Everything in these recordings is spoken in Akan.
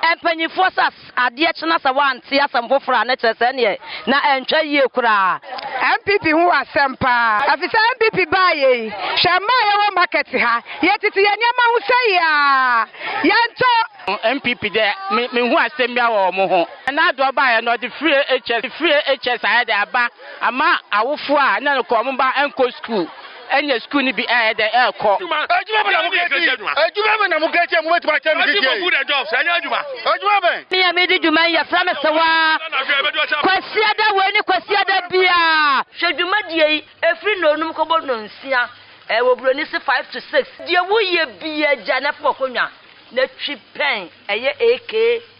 Mpanyimfoɔ sɛ adeɛ kye na sɛ wɔante asɛm foforɔ a, na kyerɛ sɛ ɛnneɛ na ɛntwa yie koraa. NPP ho asɛm paa. Ɛfisɛ NPP baeɛ yi, hwɛ mma a yɛwɔ market ha, yɛtete yɛn nneɛma ho sɛi ara, yɛntɔ. NPP dɛ me menhu asɛm biara wɔ wɔn ho. Nana Addo baeɛ no ɔde free HS free HS ayɛ dɛ aba ama awofoɔ a na nka wɔn mma nkɔ sukuu. Ɛnyɛ sukuu no bi a ɛyɛ dɛn ɛrekɔ. Adwuma adwuma bɛn na mo kɛkyi adwuma bɛn na mo kɛkyi a mo bɛtuma akyɛ no kɛkyi yi. Food and jobs ɛnyɛ adwuma. Adwuma bɛn. Me a medi dwuma yi yɛfrɛ me Sewaa. Kwasiada wei ne Kwasiada biara. Hwɛ dwumadie yi, ɛfiri nnɔnum kɔbɔ nnɔnsia, wɔ buroni se five to six. Deɛ woyɛ biara gya na fa w'akonnwa na twi pɛn, ɛyɛ AK.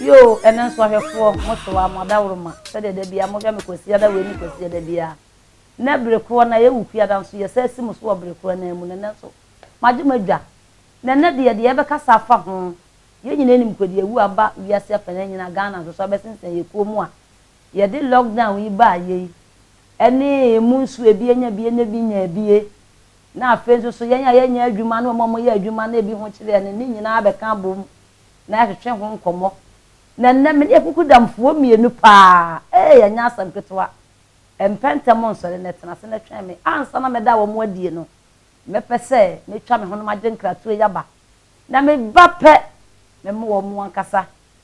Yoo, ɛnɛ nso ahwɛfoɔ, mo so a, mo adaworo ma, sɛdeɛ da biara mohwɛ me Kwasi Ada wei ne Kwasi Ada biara. Nnɛ bere korɔ na yɛwo Kwiada nso yɛsan si mo so wɔ bere korɔ no ara mu na nnɛ nso magye mo adwa. Na nnɛ deɛ, deɛ yɛbɛkasa afa ho, yɛn nyinaa nim Kwadi awu aba wiase afanan nyinaa, Ghana nso so abɛsensɛn yɛn kuo mu a, yɛde lockdown yi baeɛ yi ne emu nso ebi anya bie na ebi nyaa bie na afei nso so yɛn a yɛnyɛ adwuma ne wɔn a wɔyɛ adwuma na ebi ho kyere yɛn no ne nyinaa bɛka abom na yɛahwehwɛ ho nkɔmmɔ. Na nnɛ me ne Akuku Damfoɔ mmienu paa ee ɛnyɛ asɛm ketewa. Ɛmpɛ ntɛm nsɔre na ɛtena ase na ɛtwɛn me. Ansa na mɛda wɔn adie no mɛpɛ sɛ mɛtwa me ho na magye nkratoɔ yi aba. Na meba pɛ memo wɔn ankasa.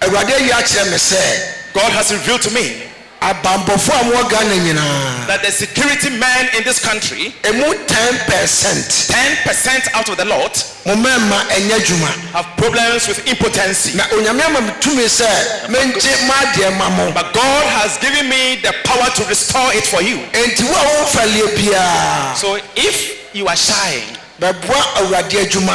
Awurade ayi akyerɛ me sɛ. God has revealed to me. Abanbɔfoɔ a wɔwɔ Ghana nyinaa. That the security men in this country. Ɛmu ten percent. Ten percent out of the lot. Mo mmarima ɛnyɛ adwuma. Have problems with impotency. Na Onyame ama me tumi sɛ mengye mo adeɛ ma mo. But God has given me the power to restore it for you. Enti wo a wo mfa leɛ biara. So if you are shying. Bɛboa Awurade adwuma.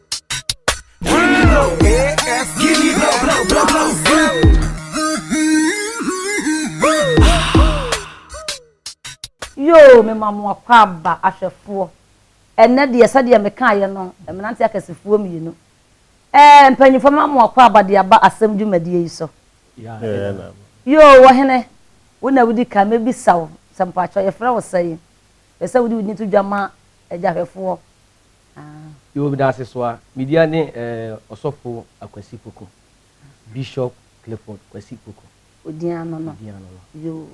Yoo mema mo akwaaba ahwɛfoɔ Ɛnnɛ deɛ sɛdeɛ mekaaeɛ no mmeranteɛ akɛsefoɔ mmienu eh mpaninfoɔ mema mo akwaaba de aba asɛm dwumadie yi so Yoo ɔhene wo na wodi kan mɛbisa wo sɛ mpakyɛw yɛfrɛ wo sɛn? Mepɛ sɛ wode wo din to dwa ma agyahwɛfoɔ Ah. Yɛwɔ Medase so a. Me dea ne Ɔsɔfo Akwasi Poku, Bishop Clifford Kwasi Poku. Wo din ano no. Me din ano no. Yoo.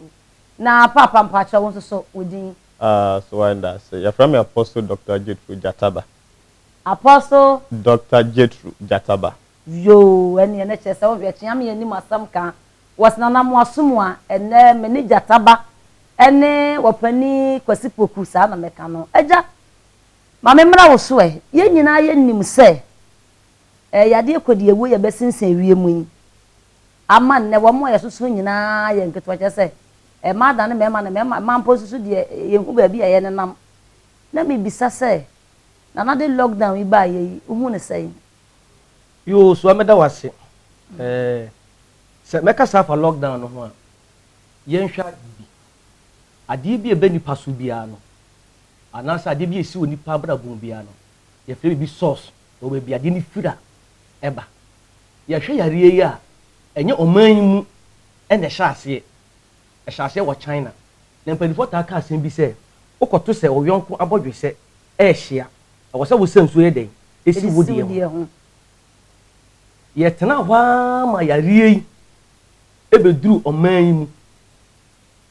Na Paapa mpakyɛw wo nso so wo din. Ah, so why Ndase. Yɛfrɛ me Apostle Doctor Jethro Gyataba. Apostle. Doctor Jethro Gyataba. Yoo, ɛneɛ na kyerɛ sɛ wohwɛ kyea me anim asɛm ka wɔ Senanamoaso mu a, ɛnnɛ me ne Gyataba ne Ɔpanin Kwasi Poku saa na mɛka no. Agya. Ma me mmra wo so ɛ. Yɛn nyinaa yɛ nim sɛ ɛ yadeɛ kɔ deɛ wuo yɛ bɛ sensen ɛwie mu yi ama nnɛ wɔn a yɛ soso nyinaa yɛ nketewa kyerɛ sɛ ɛ mmaa dane mmarima na mmarima mmaa mpo nso so deɛ yɛn hu baabi a yɛ ne nam na me bisa sɛ nana de lock down yi baa yɛ yi wo hu ne sɛn. Yoo sua meda wase ɛ sɛ mɛ kasa afa lock down no ho a yɛ nhwɛ adeɛ bi adeɛ bi a ɛbɛ nipa so biara no anaasɛ adeɛ bi a ɛsi wɔ nnipa abrabɔ mu biara no, yɛfrɛ biribi source, ɛwɔ baabi adeɛ no firi a ɛba. Yɛhwɛ yareɛ yi a, ɛnyɛ ɔman yi mu na ɛhyɛ aseɛ, ɛhyɛ aseɛ wɔ China. Na mpanimfoɔ taa ka asɛm bi sɛ, wokɔto sɛ wo yɔnko abɔdwesɛ rehye a, ɛwɔ sɛ wosa nsuo yɛ dɛn? Si wo deɛ ho. Yɛtenaa hɔ ara ma yareɛ yi bɛduruu ɔman yi mu.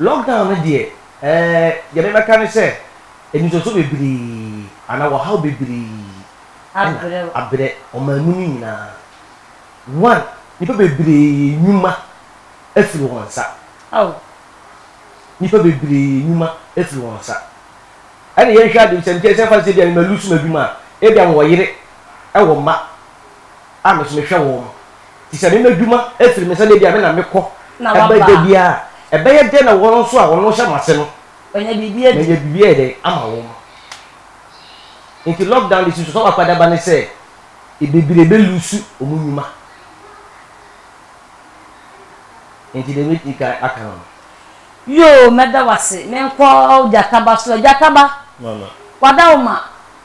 Lockdown no deɛ eh, deɛ mebɛka ne sɛ anisoso bebree anaa ɔhaw bebree na abrɛ ɔman mu no nyinaa. One, nnipa bebree nnwuma afiri wɔn nsa, nnipa bebree nnwuma afiri wɔn nsa. Ɛna yɛnhwɛ ade, sɛ nkyɛ sɛ fa no sɛ ebia mɛlusu m'adwuma a, ebia mewɔ yere, ɛwɔ mma. a me nso mehwɛ wɔn no. Enti sɛ me m'adwuma firi me nsa na ebia me na mekɔ ba da biara a, ɛbɛyɛ dɛn na wɔn nso a wɔn hyɛ m'ase no manya biribi ayɛ dɛn ama wɔn? Enti lockdown de susuw sɛ w'akwadaba ne sɛ bebree bɛ luusu wɔn nnwuma. Enti deɛ mɛtumi ka aka no no. Yoo mɛda wase menkɔ gyataba so ɛ gyataba wada wo ma.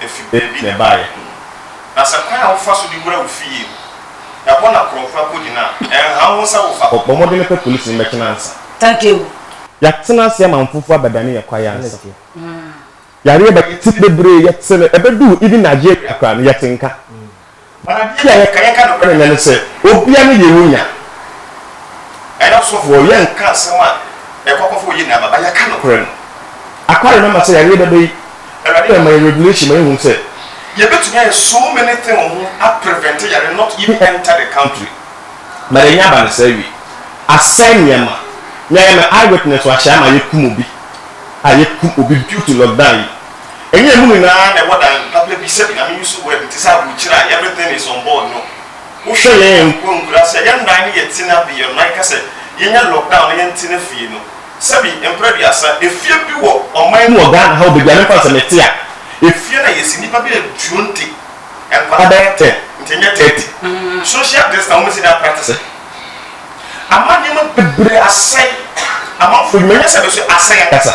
efi baabi na ɛbaeɛ, na sɛ kwan a wofa so de wura wo fie mu, ɛhɔ na korɔmfra kɔgyina a, ɛnhaw wo sɛ wofa hɔ. Bɔ mmɔden pɛ polisini mmɛkyena ansa. Thank you. Yɛatena ase ama mfofo abɛdane yɛn kwaeɛ ansa. Yareɛ ba yɛn ti bebree, yɛte no, ɛbɛduu even Nigeria koraa no yɛte nka. Ɔno adeɛ na yɛka yɛka nokorɛ nyɛ ne sɛ obia ne yɛn mu nya ɛna ɔsɔfoɔ yɛ nka asɛm a ɛkɔ akɔfa oyi na aba ba yɛka nokorɛ no akware no ama sɛ yareɛ bɛba yi awurade na ɛma yɛn regulation ma yɛhunu sɛ yɛbɛtumi ayɛ so many thing wɔ ho a prevent yareɛ not even enter the country but ɛnya aba no saa wie asɛe nneɛma me a yɛ me eye witness wɔ ahyɛ ama yɛkum obi a yɛkum obi due to lockdown yi. Ɛnyɛ ɛno nyinaa na ɛwɔ dan papa bi sɛbi na me use word te sɛ aburokyire a everything is on board no. Wohwɛ yɛn mpo nkura sɛ yɛn dan no yɛ tena bi yɛn nan ka sɛ yɛnya lockdown na yɛn tena fie no sɛbi mpra aduasa efie bi wɔ ɔman mu wɔ Ghana ha obedwane mfa nsɛ me te a efie no a yɛsi nipa bɛyɛ duonte nkwadaa bɛyɛ ten nti ɛnyɛ thirty social distance na wɔn si dan practice ama nneɛma bebree asɛe amanfoɔ adwuma nyɛ sɛ bɛso asɛe ankasa.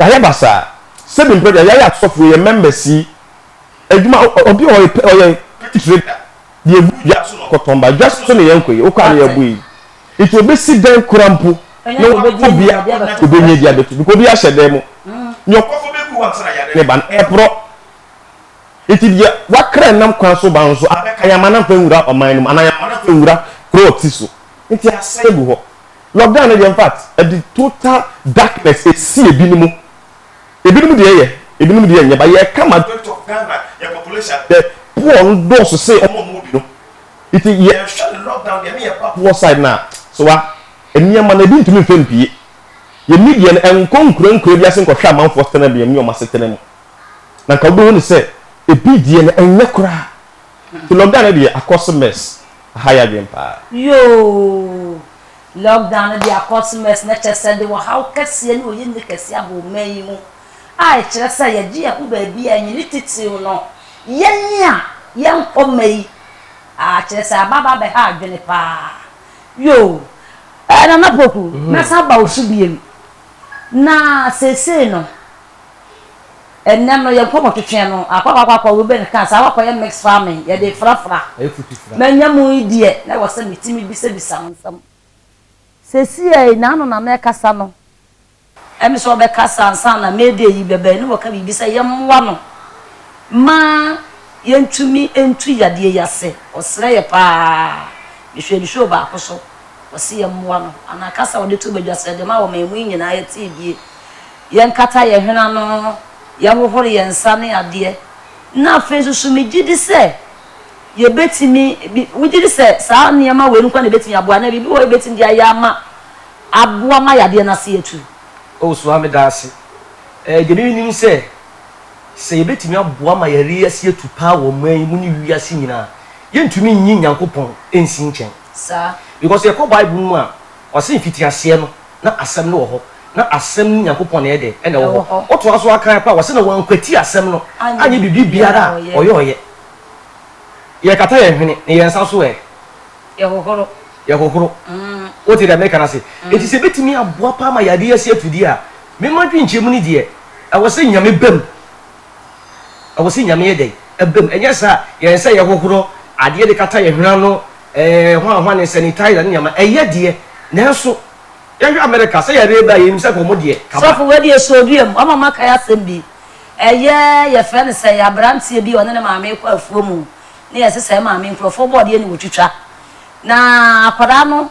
Yayɛ basaa sɛbi mprɛ deɛ yayɛ asɔfoɔ yɛ members yi adwuma obi wɔ hɔ ɔyɛ ɔyɛ titire da deɛ egu dwa so na ɔkɔtɔn ba dwa so so na yɛnkɔ yi wokɔ a na yɛbɔ yi nti obesi dɛn kora mpo na wɔbɛbɔ obi a wɔnya deɛ obɛnya di abɛto because obi ahyɛ dɛn mu nea ɔkɔfo bɛgu hɔ ansa na yare ne ba no ɛporɔ nti deɛ wakra nam kwan so ba nso abɛka yɛn ama no mfa nwura ɔman no mu anaa yɛn ama no mfa nwura kuro ɔte so nti asɛe gu hɔ. lockdown no deɛ infact ɛde total darkness ɛsi ebinom ebinom deɛ ɛyɛ ebinom deɛ ɛnyɛ ba yɛka majority of Ghana yɛ population the poor no dɔɔso se ɔmo ɔmo bi no nti yɛhwɛ ne lockdown deɛ ne yɛba poor side no a so wa nneɛma no ebi ntumi mfɛ mpie yɛ media no ɛnkɔ nkura nkura bi ase nkɔhwɛ amanfoɔ setena bi ɛmi ɔmo asetena mu na nka wobɛhu ne sɛ ebi deɛ no ɛnyɛ koraa nti lockdown no deɛ akɔse mess Aha yɛ adwen paa. Yoo! Lockdown no de akɔ so mɛs na kyerɛ sɛ ɛde ɔhaw kɛseɛ ne oyenni kɛseɛ aba ɔman yi mu a ɛkyerɛ sɛ yɛgye yɛn ho baabi a ɛnyene titiriw no yɛn a yɛnkɔ mma yi a kyerɛ sɛ aba aba abɛha adwene paa yoo ɛɛ Nana Poku mɛsan aba wo so biom na seesei no Ɛnnɛ no, yɛn nkurɔfo twe twɛn no, akɔ akɔ akɔ akɔ, Reuben kaa saa, wɔakɔyɛ mixed farming, yɛde frafra. Manya mu yi deɛ, na ɛwɔ sɛ metumi bisabisa no nsɛm. Seesei, n'ano na na ɛkasa no. Ɛne sɛ ɔbɛkasa ansa na May Day yi bɛba, ɛne wɔka biribi sɛ yɛmmoa no ma yɛntumi ntu yadeɛ yi ase. Ɔsrɛ yɛ pa ara. Mehwɛɛ ne show baako so, ɔse yɛmmoa no. Anaa kasa a ɔde too badwa sɛ, Deɛ ɛma wɔmaa mu yi nyinaa yɛtee bie. Yɛnkata yɛn hwene ano, yɛhohoro yɛn nsa ne adeɛ. Na afei nso so megye di sɛ yɛbɛtumi, bi, wogye di sɛ saa nneɛma wei nko ara na ɛbɛtumi aboa anaa biribi wɔ hɔ a yɛbɛtumi de ayɛ ama, aboa ma yadeɛ no ase atu? Oh, so ara meda ase. Ɛɛ, deɛ menim sɛ, sɛ yɛbɛtumi aboa ma yareɛ ase atu paa wɔ ɔman yi mu ne wiase nyinaa a, yɛntumi nyi Nyankopɔn nsi nkyɛn. Saa. Because yɛkɔ Bible no mu a, ɔse mfitiaseɛ no, na Asɛm no wɔ hɔ, na Asɛm no, Nyankopɔn, na ɛyɛ dɛn? Na ɛwɔ hɔ. Ɔtoa so ara kan paa, ɔse, Na wɔankwati Asɛm no anyɛ biribi biara a ɔyɔeɛ. Yɛkata yɛn hwene, na yɛn nsa nso ɛ? Yɛhohoro. Yɛhohoro. Wote deɛ mereka no ase? Enti sɛ ɛbɛtumi aboa paa ma yɛade yɛn ase ato di a, me m'adwenkyerɛmu no deɛ, ɛwɔ sɛ Nyame ba mu. Ɛwɔ sɛ Nyame yɛ dɛn? Ɛbam. Ɛnyɛ saa a, yɛn sɛ yɛhohoro adeɛ de kata yɛn hwene ano, ɛɛ, hwanhwane, sanitizer ne nneɛma. Ɛyɛ deɛ, nanso yɛhwɛ Amerika, sɛ yareɛ ba a, yɛnim sɛ anka wɔn deɛ, kaba. Sɔfo, wei deɛ ɛhyɛ odua mu. Wama makae asɛm bi. Ɛyɛ, yɛfrɛ no sɛn, aberanteɛ bi a ɔne ne maame rekɔ afuo mu, na yɛsesa yɛn maame nkurɔfoɔ bɔɔdeɛ na wɔtwitwa. Na akwadaa no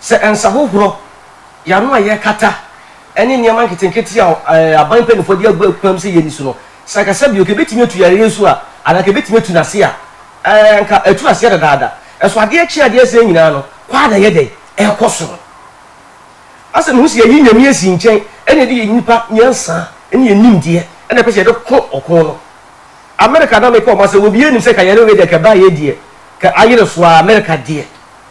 Sɛ nsahohorɔ, yɛano a yɛkata, ne nneɛma nketenkete a aban mpanimfoɔ de agu akwan mu sɛ yɛnni so no, sɛ anka sɛ bio, anka ɛbɛtumi atu yareɛ yi so a, anaa anka ɛbɛtumi atu no ase a, ɛɛ, anka atu aseɛ dadaada. Nso adeɛ kye adeɛ sɛɛ nyinaa no, kɔ ara na ɛyɛ dɛn? Ɛrekɔ soro. Asɛ mehu sɛ yɛayi Nyame asi nkyɛn na yɛde yɛn nnipa nyansa ne yɛn nimdeɛ na ɛpɛ sɛ yɛde ko ɔko no. Amerika na meka wɔn asɛm, obiara nim sɛ ka yare wei deɛ, ka ɛbaeɛ deɛ, ka ayere so ara, Amerika deɛ.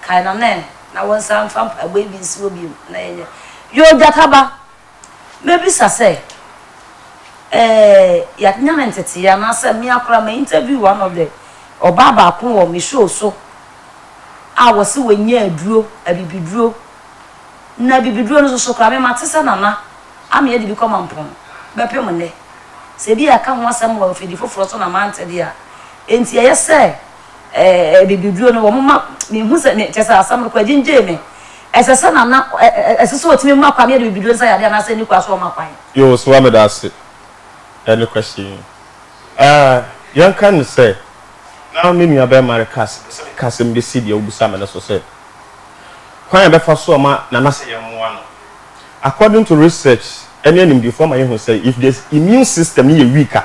Kae no nnɛ na wonsan mfa mpaebɔ bi nsi hɔ bio na yɛnyɛ. Yoo Gyata ba, mɛbisa sɛ, eh, yɛanya no ntetee anaasɛ me ara koraa ma interview one of the ɔbaa baako wɔ me show so a wɔse wanya aduro, abibiduro, na abibiduro no soso koraa me mate sɛ Nana Amea de bi kɔma mpɔn bɛpem nnɛ. Sɛ ebia yɛaka ho asɛm wɔ afidi foforɔ so na mante deɛ a, enti ɛyɛ sɛ. eh, eh, bibiduro no, wɔn ma mehu sɛ me kyɛ sɛ asɛm no kɔ agyingyee me. Ɛsɛ sɛ na na ɛ- ɛ- ɛsɛ sɛ ɔtumi ma kwan ne yɛde bibiduro nsa yadeɛ anaasɛ ɛni kwan sɛ ɔma kwan. Yoo soa meda ase ɛne kwasi yi eh, yɛnka no sɛ na me nua bɛɛma reka sɛ mepɛ sɛ meka asɛm bi si deɛ wobisa me no so sɛ kwan a yɛbɛfa so ama nana sɛ yɛmmoa no according to research ɛne animdefo ama yɛhu sɛ if the immune system no yɛ weak a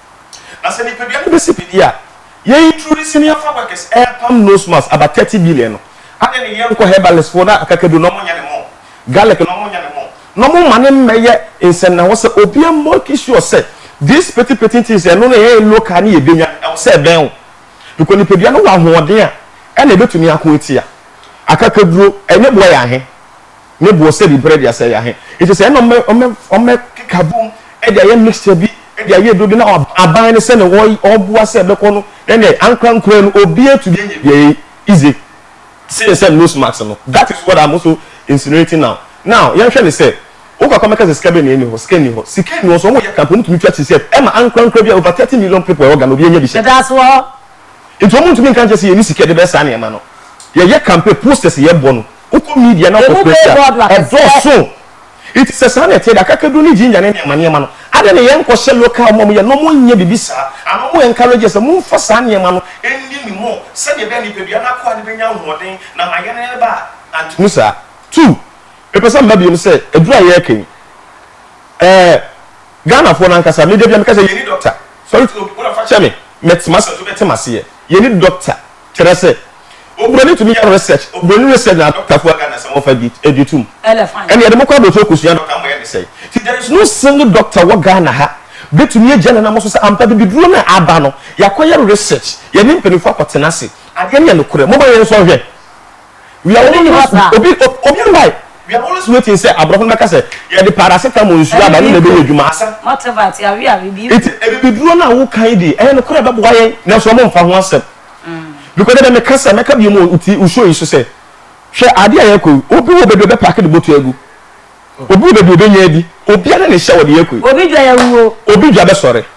Na sɛ nipadua no bɛsi biribi a yɛyi turu no sini afa workers ɛɛpam nose mask about thirty billion no adɛn ne yɛnkɔ herbalist foɔ na akakaduro na ɔmo nyɛ ne mo garlic na ɔmo nyɛ ne mo na ɔmo mma no mmɛyɛ nsɛnnahɔ sɛ obia make sure sɛ these petty petty things ɛno no ɛɛyɛ local ne yɛbɛnya no ɛwɔ sɛ ɛbɛn wo because nipadua no wɔ ahoɔden a ɛna ɛbɛtumi ako atia akakaduro ɛnyɛ boa yɛn ahe. ne boɔ sɛ biribi pɛrɛ de asɛe yɛn ahe. Nti sɛ ɛna ɔmɛ ɔmɛ ɔmɛ keka bom de ayɛ mixture bi de ayɛ aduro bi na aban no sɛnea ɔy ɔboa sɛ ɛbɛkɔ no ɛnɛ ankora nkora no obi atumi anya bi ɛyɛ easy seen sɛ nose mask no that is what I'm also insinuating now now yɛnhwɛ no sɛ wokɔ akɔ mɛka sɛ sika bɛ na ɛni hɔ sika nni hɔ sika nni hɔ so wɔn yɛ kampo wɔn tumi twa ti sɛ ɛma ankora nkora bi a over thirty million people ɛwɔ Ghana obi anya bi hyɛ. Ɛda ase wɔ hɔ. Nti wɔn ntumi nka nkyɛ sɛ yɛni sika de bɛsa nneɛma no yɛyɛ kampe posters yɛbɔ no. Wokɔ Media na wokɔ Persia a, ɛdɔɔso. Nti sɛ saa na ɛteɛ deɛ, akakaduro ne ginger ne nneɛma nneɛma no, adɛn na yɛnkɔhyɛ local ma wɔyɛ na wɔnyɛ biribi saa? Anaa wɔn encourage yɛn sɛ, Momfa saa nneɛma no nni ne mu sɛdeɛ ɛbɛyɛ a nipadua no akoa no bɛnya ahoɔden na ama yɛn yɛn ba anto mu saa. Two, mepɛ sɛ meba biom sɛ, aduro a yɛreka yi, ɛɛ, Ghanafoɔ no ankasa, me da biara meka sɛ, yɛnni doctor. Sorry to, wona fa kyɛ me, mɛte m'ase a nso bɛte m'aseɛ. Yɛnni doctor. Kyerɛ sɛ, oburoni tumi yɛ research, oburoni research na adɔktafo a Ghana sɛ wɔfa bi di tom. Ɛnna yɛde mo kɔ abotire kosua dɔkta ama yɛde sɛe ti. There is no single doctor wɔ Ghana ha betumi agya nanam so sɛ ampa bibiduro no a aba no, yɛakɔyɛ research, yɛne mpanyimfo akɔtena ase, adeɛ no yɛ nokorɛ. Momma yɛnsɔ nhwɛ. Wia wɔn nni hɔ saa. Obi obi mbae. Wia wɔn nso waiting sɛ aborɔfo no bɛka sɛ yɛde paracetamol nsuo aba no na ɛbɛyɛ adwuma. Asɛm. Mate but yɛawe awe bi. Nti abibiduro no a woka yi deɛ ɛyɛ nokorɛ ɛbɛboa yɛn nanso wɔn mfa ho asɛm because dɛdɛ meka sɛ mɛka bio mu wɔ wo show yi so sɛ hwɛ adeɛ a yɛkɔ yi obi wɔ baabi ɔbɛpaake ne bɔtɔ agu obi wɔ baabi ɔbɛnya adi obiara ne hyɛ wɔ deɛ yɛkɔ yi. Obi dwa yawuo. Obi dwa bɛsɔre.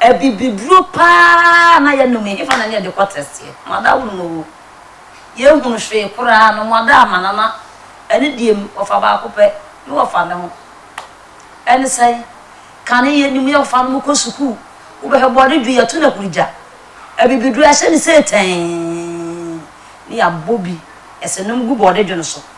Abibiduro paa na yɛnom yi hefa na ne yɛde kɔ tɛsteɛ? Moada wonom oo, yɛnhunu hwee koraa no moada amana na ɛne deɛ mu ɔfa baako pɛ ne wɔfa ne ho. Ɛne sɛn? Kane yɛnim yɛ ɔfa no mu kɔ sukuu, wobɛhwɛ bɔde dwo yɛto no akuru gya. Abibiduro yɛahyɛ ne seetɛɛn ne yɛabɔ bi ɛsɛ nom gu bɔde dwo no so.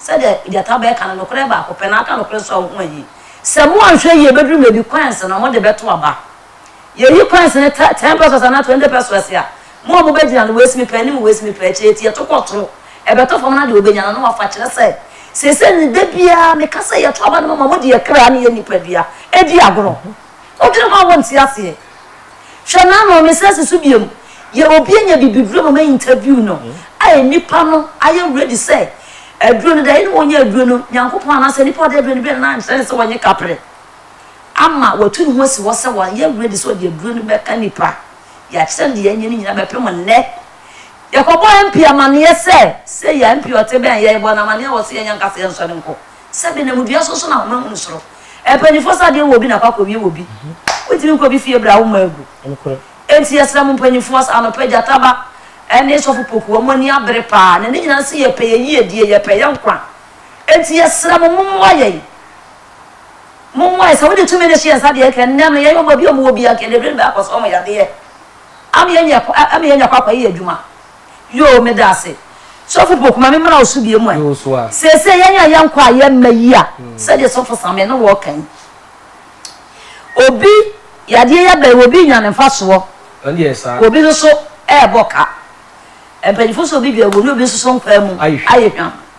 Sɛdeɛ gyata bɛka no, nokorɛ baako pɛ, na aka nokorɛ nso a wo ho ahi. Sɛ moanhwɛ yie bɛduru baabi coins na mode bɛto aba. Yɛyi coins no tɛ ten pesos anaa twenty pesos a, mo a mobɛgyina no waist mepa anim waist mepa akyi, enti yɛto kɔ soro, ɛbɛtɔ fam na deɛ ɔbɛnya no na wafa. Kyerɛ sɛ, seesei no da biara meka sɛ yɛto aba no moma mode yɛn kra ne yɛn nipadua di agorɔ. Wodwene ho a wonte aseɛ. Hwɛ n'ano, mesrɛ si so biom. Yɛ obi anya bibiduro ma ma interview no ayɛ nipa no ayɛ ready sɛ aduro no dae ne wɔnyɛ aduro no Nyankopɔn anaasɛ nipa ɔde aduro no bɛ no na nkyerɛ ne sɛ wɔnye kaprɛ ama watu ne ho asi hɔ sɛ wɔayɛ ready sɛ ɔde aduro no bɛka nipa yɛakyerɛ no deɛ yɛanyɛ no nyina bɛpem nnɛ yɛkɔbɔ MP amaneɛ sɛ sei a MP ɔte bɛn yɛbɔ no amaneɛ wɔ so yɛnyɛ nkasa yɛnsɔre nkɔ Sɛ denam odua so nso na ahoma hunu soro. Mpanyinfoɔ sɛ adeɛ wɔ obi na akɔ akɔwie wɔ obi. Wontumi nkɔ obi fie bra woma agu. Enti yɛsrɛ mo mpanyinfoɔ sɛ anɔpa yi Gyata ba ne Sɔfo Poku wɔn ani abere paa na ne nyinaa nso yɛpɛ yɛn yiedie, yɛpɛ yɛn nkwa. Enti yɛsrɛ mo mommoa yɛn. Mommoa yɛn. Sɛ wode tumi no hyɛ yɛn nsa deɛ ɛnka ɛnnɛ no yɛyɛ wɔn baabi a wɔwɔ biara nka yɛde aduro no bɛkɔ so wɔn yadeɛ ama yɛanya kɔ akɔyɛ yɛn adwuma. Yoo me da ase sɔfo poku ma me mmra wo so bie mu ɛ seesei yɛn a yɛn kɔ a yɛn mma yi a sɛdeɛ sɔfo same ne wɔ kan obi yadeɛ yɛ bɛn obi nya ne mfa soɔ obi nso ɛɛbɔ ka mpanyinfo so obi dwa agu ne obi nso so nkwaa mu ayɛ hwam.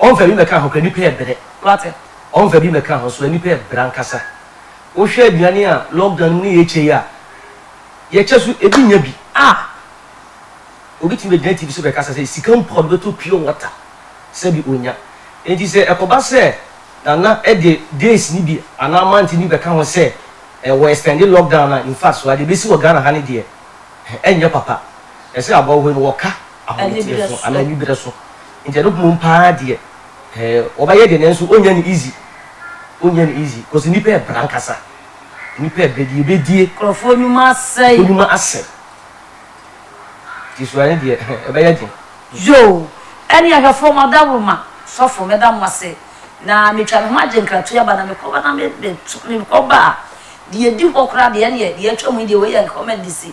Ɔmfa bi mmɛka ho koraa, nnipa yɛ brɛ. Wate? Ɔmfa bi mmɛka ho so, nnipa yɛ brɛ ankasa. Wohwɛ aduane a lockdown no mu ne yɛkyɛ yi a, yɛkyɛ so ebi nnya bi. Ah! Obi tumi bɛgyina TV so bɛkasa sɛ sika mpo a ɔde bɛtɔ pure water, sɛbi ɔnnya. Enti sɛ ɛkɔba sɛ Nana de days no bi anaa month no bi bɛka ho sɛ wɔ extend lockdown no a, infact, wɔ ha deɛ ɛbɛsi wɔ Ghana ha no deɛ, ɛnyɛ papa. Ɛsɛ abɔwohoe no wɔka. ahometeɛso anaa aniberɛ so nti ɛno mmom paa deɛ eh wɔbɛyɛ deɛ nanso ɔnnya no easy ɔnnya no easy cause nnipa ɛbra ankasa nnipa ɛbrɛ deɛ ɛbɛdie Nkurɔfoɔ nnwuma asɛe. nkurɔfoɔ nnwuma asɛe nti sua no deɛ eh ɛbɛyɛ den. Yoo! Ɛne ahwɛfoɔ mo adaworoma sɔfo meda mo ase na metwa me ho agye nkratoe aba na mekɔba na me me mekɔba a deɛ ɛdi hɔ koraa deɛ ɛneɛ deɛ atwa mu yi deɛ wei yɛ nkɔmmandisi.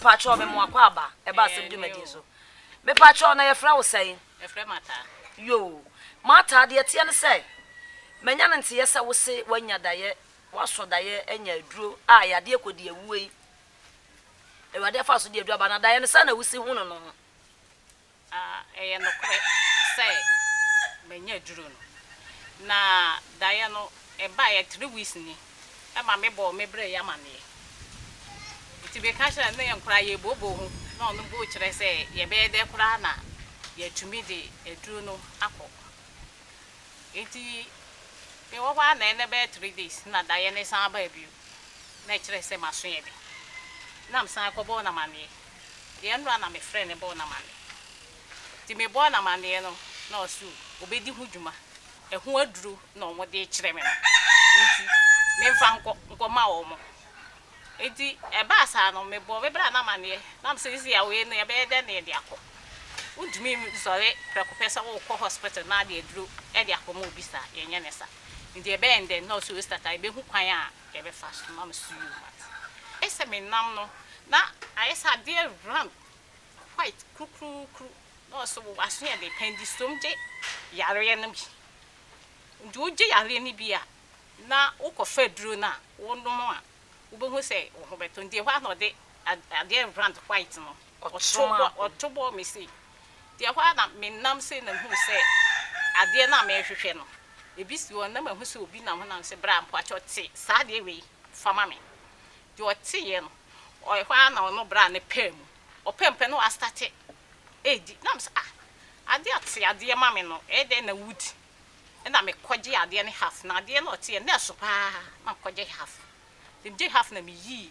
Mpacho me mo akwa aba e ba asem dwumadi so. Me pacho na ye fra wo sɛn? Me fra mata. Yo. Mata de ɛteɛ ne sɛ manya ne nteyɛ sɛ wo se wanya dayɛ, wasɔ dayɛ anya aduro a ɛyɛ adeɛ kɔdi awuo yi. Awurade afa so de aduro aba na dayɛ no sɛ na wo si hu no no ho. Na ɛyɛ nokorɛ sɛ manya aduro no. Na daeɛ no ɛbaeɛ three weeks ni ɛma me bɔɔ me brɛ yi amaneɛ. Nti me ka kyerɛɛ no na yɛn koraa yɛ bɔ bɔ ho na ɔno bo kyerɛ sɛ yɛ bɛyɛ dɛ koraa na yɛ tumi de aduro no akɔ. Nti me wɔ hɔ ara na ɛnɛ bɛyɛ three days na daeɛ no san baa bio na ɛkyerɛ sɛ maso yɛ den. Na me san kɔ bɔɔ no amaneɛ Deɛ ɛno a na me frɛ no bɔɔ no amaneɛ nti me bɔɔ no amaneɛ no na ɔse ɔbɛdi ho dwuma ɛho aduro na ɔmo de rekyerɛ me no nti menfa nkɔ nkɔ ma ɔmo nti ɛbaa saa no me bɔɔ me bra no amaneɛ na me sɛ sia wei no yɛbɛyɛ dɛn na yɛde akɔ wontumi nsɔre prɛko pɛ sɛ wokɔ hospital na de aduro de akɔ ma obi saa yɛnyɛ ne saa nti ɛbɛyɛ dɛn na ɔse osita ka yɛbɛhu kwan a yɛbɛfa so ama maso yie mu ate. Ɛsɛ menam no na ayɛ sɛ adeɛ round white kurukurukuru na ɔsɛ wo aso yɛ den pɛn di som gye yareɛ no bi nti wogye yareɛ no bi a na wokɔfa aduro no a wonom a wobɛhu sɛ wo ho bɛtɔ nti ɛhɔ a na ɔde adeɛ round white no ɔtoro mu a ɔto bɔɔ me sei. Nti ɛhɔ ara na menam sei na mehuu sɛ adeɛ no a merehwehwɛ no, ebi si hɔ na mahu sɛ obi nam hɔ na sɛ bra mpakyɛw te saa adeɛ wei fa ma me. Nti ɔteeɛ no, ɛhɔ ara na ɔno braa no pɛɛ mu. Ɔpɛɛ mu pɛ na wastate redi. Na me sɛ ah, adeɛ a te adeɛ ma me no, ɛyɛ dɛn na wodi? Ɛna mekɔgyee adeɛ no half. Na adeɛ no a ɔteeɛ no, na ɛso pa ara, na mekɔgye half. Nti megyee half na meyii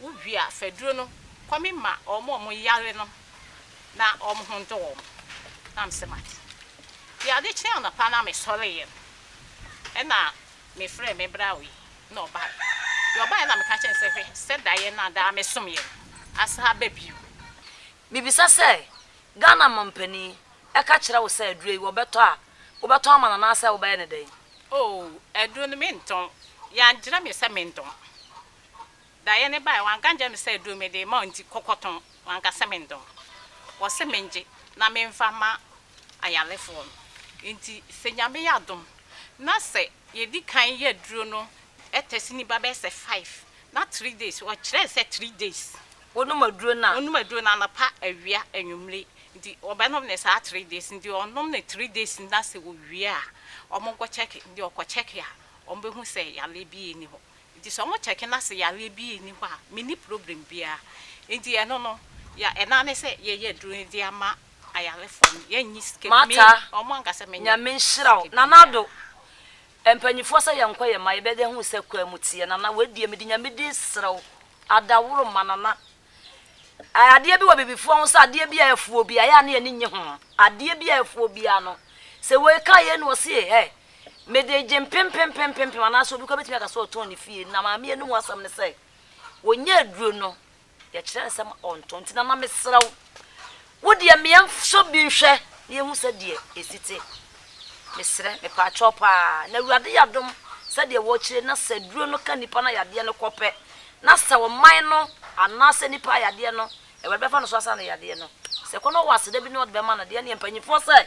Wo wie a fa duro no kɔ me ma wɔn a wɔn yare no na wɔn ho ndɔ wɔn na me se mate deɛ ade kyee anɔpa na me sɔreeɛ no ɛna me frɛɛ me bra wei na ɔbaeɛ deɛ ɔbaeɛ na me ka kyerɛ no sɛ hwɛ sɛ daeɛ no a daa me someɛ no asan aba bio. Me bisa sɛ Ghana mampanin ɛka kyerɛ wo sɛ aduro yi wɔ bɛtɔ a wo bɛtɔn ama no anaasɛ wo bɛyɛ no dɛn? Oh aduro no me ntɔn, yɛangyerɛ me sɛ me ntɔn. Daeɛ no baeɛ, wanka ankyerɛ me sɛ aduro mede rema wo nti kɔ kɔtɔn, wanka sɛ mentɔn. Ɔse mengye na memfa mma ayarefoɔ no. Nti sɛ Nyame yɛ adom na sɛ yɛdi kan yɛ aduro no test no ba bɛyɛ sɛ five na three days, ɔkyerɛɛ sɛ three days, Wonom aduro no a. wonom aduro no anapa, awia, anwummere, nti ɔbɛnom no saa three days, nti ɔnom no three days na sɛ ɔwie a wɔnkɔ check, nti ɔkɔ check a wɔbɛhu sɛ yareɛ biara nni hɔ. Nti sɛ ɔmo kyɛke na sɛ yareɛ bi nni hɔ a menni problem biaa. Nti ɛno no yɛ ɛna ne sɛ yɛyɛ aduro no de ama ayarefoɔ no yɛnnye sika biaa. Me ɔmo anka sɛ menyɛ sika biaa. Nana Addo, Mpaninfoɔ sɛ yɛnkɔ yɛma yɛbɛda hu sɛ kwaa mu teɛ. Nana wei deɛ mede Nyame din serɛ wo, Adaworo ma Nana Ɛ, adeɛ bi wɔ Abibifoɔ ho sɛ adeɛ bi a ɛfu obi a, ɛyɛ a ne ani nnye ho. Adeɛ bi a ɛfu obi a no, sɛ wei ka yei na ɔse e, ɛ, mede gye mpempempempempem anaasɛ obi koraa bɛtumi aka sɛ ɔtɔn ne fie. Na maame yɛ no ho asɛm ne sɛ, ɔnya aduro no, yɛkyerɛ no sɛ ɔntɔn. Nti Nana mesrɛ wo, Wo deɛ ma yɛn sɔ bi nhwɛ na yɛhu sɛ deɛ ɛsi te. Mesrɛ, mepaakyɛw paa. Na Awurade yɛ adom sɛ deɛ wɔkyire na sɛ aduro no ka nipa no ayadeɛ no kɔ pɛ na sɛ ɔman no anaa sɛ nipa ayadeɛ no Awurade bɛfa no so asa no yadeɛ no. Sɛ kɔ na ɔwɔ aseda bi na ɔde bɛma no deɛ ɛneɛ mpanyinfoɔ sɛ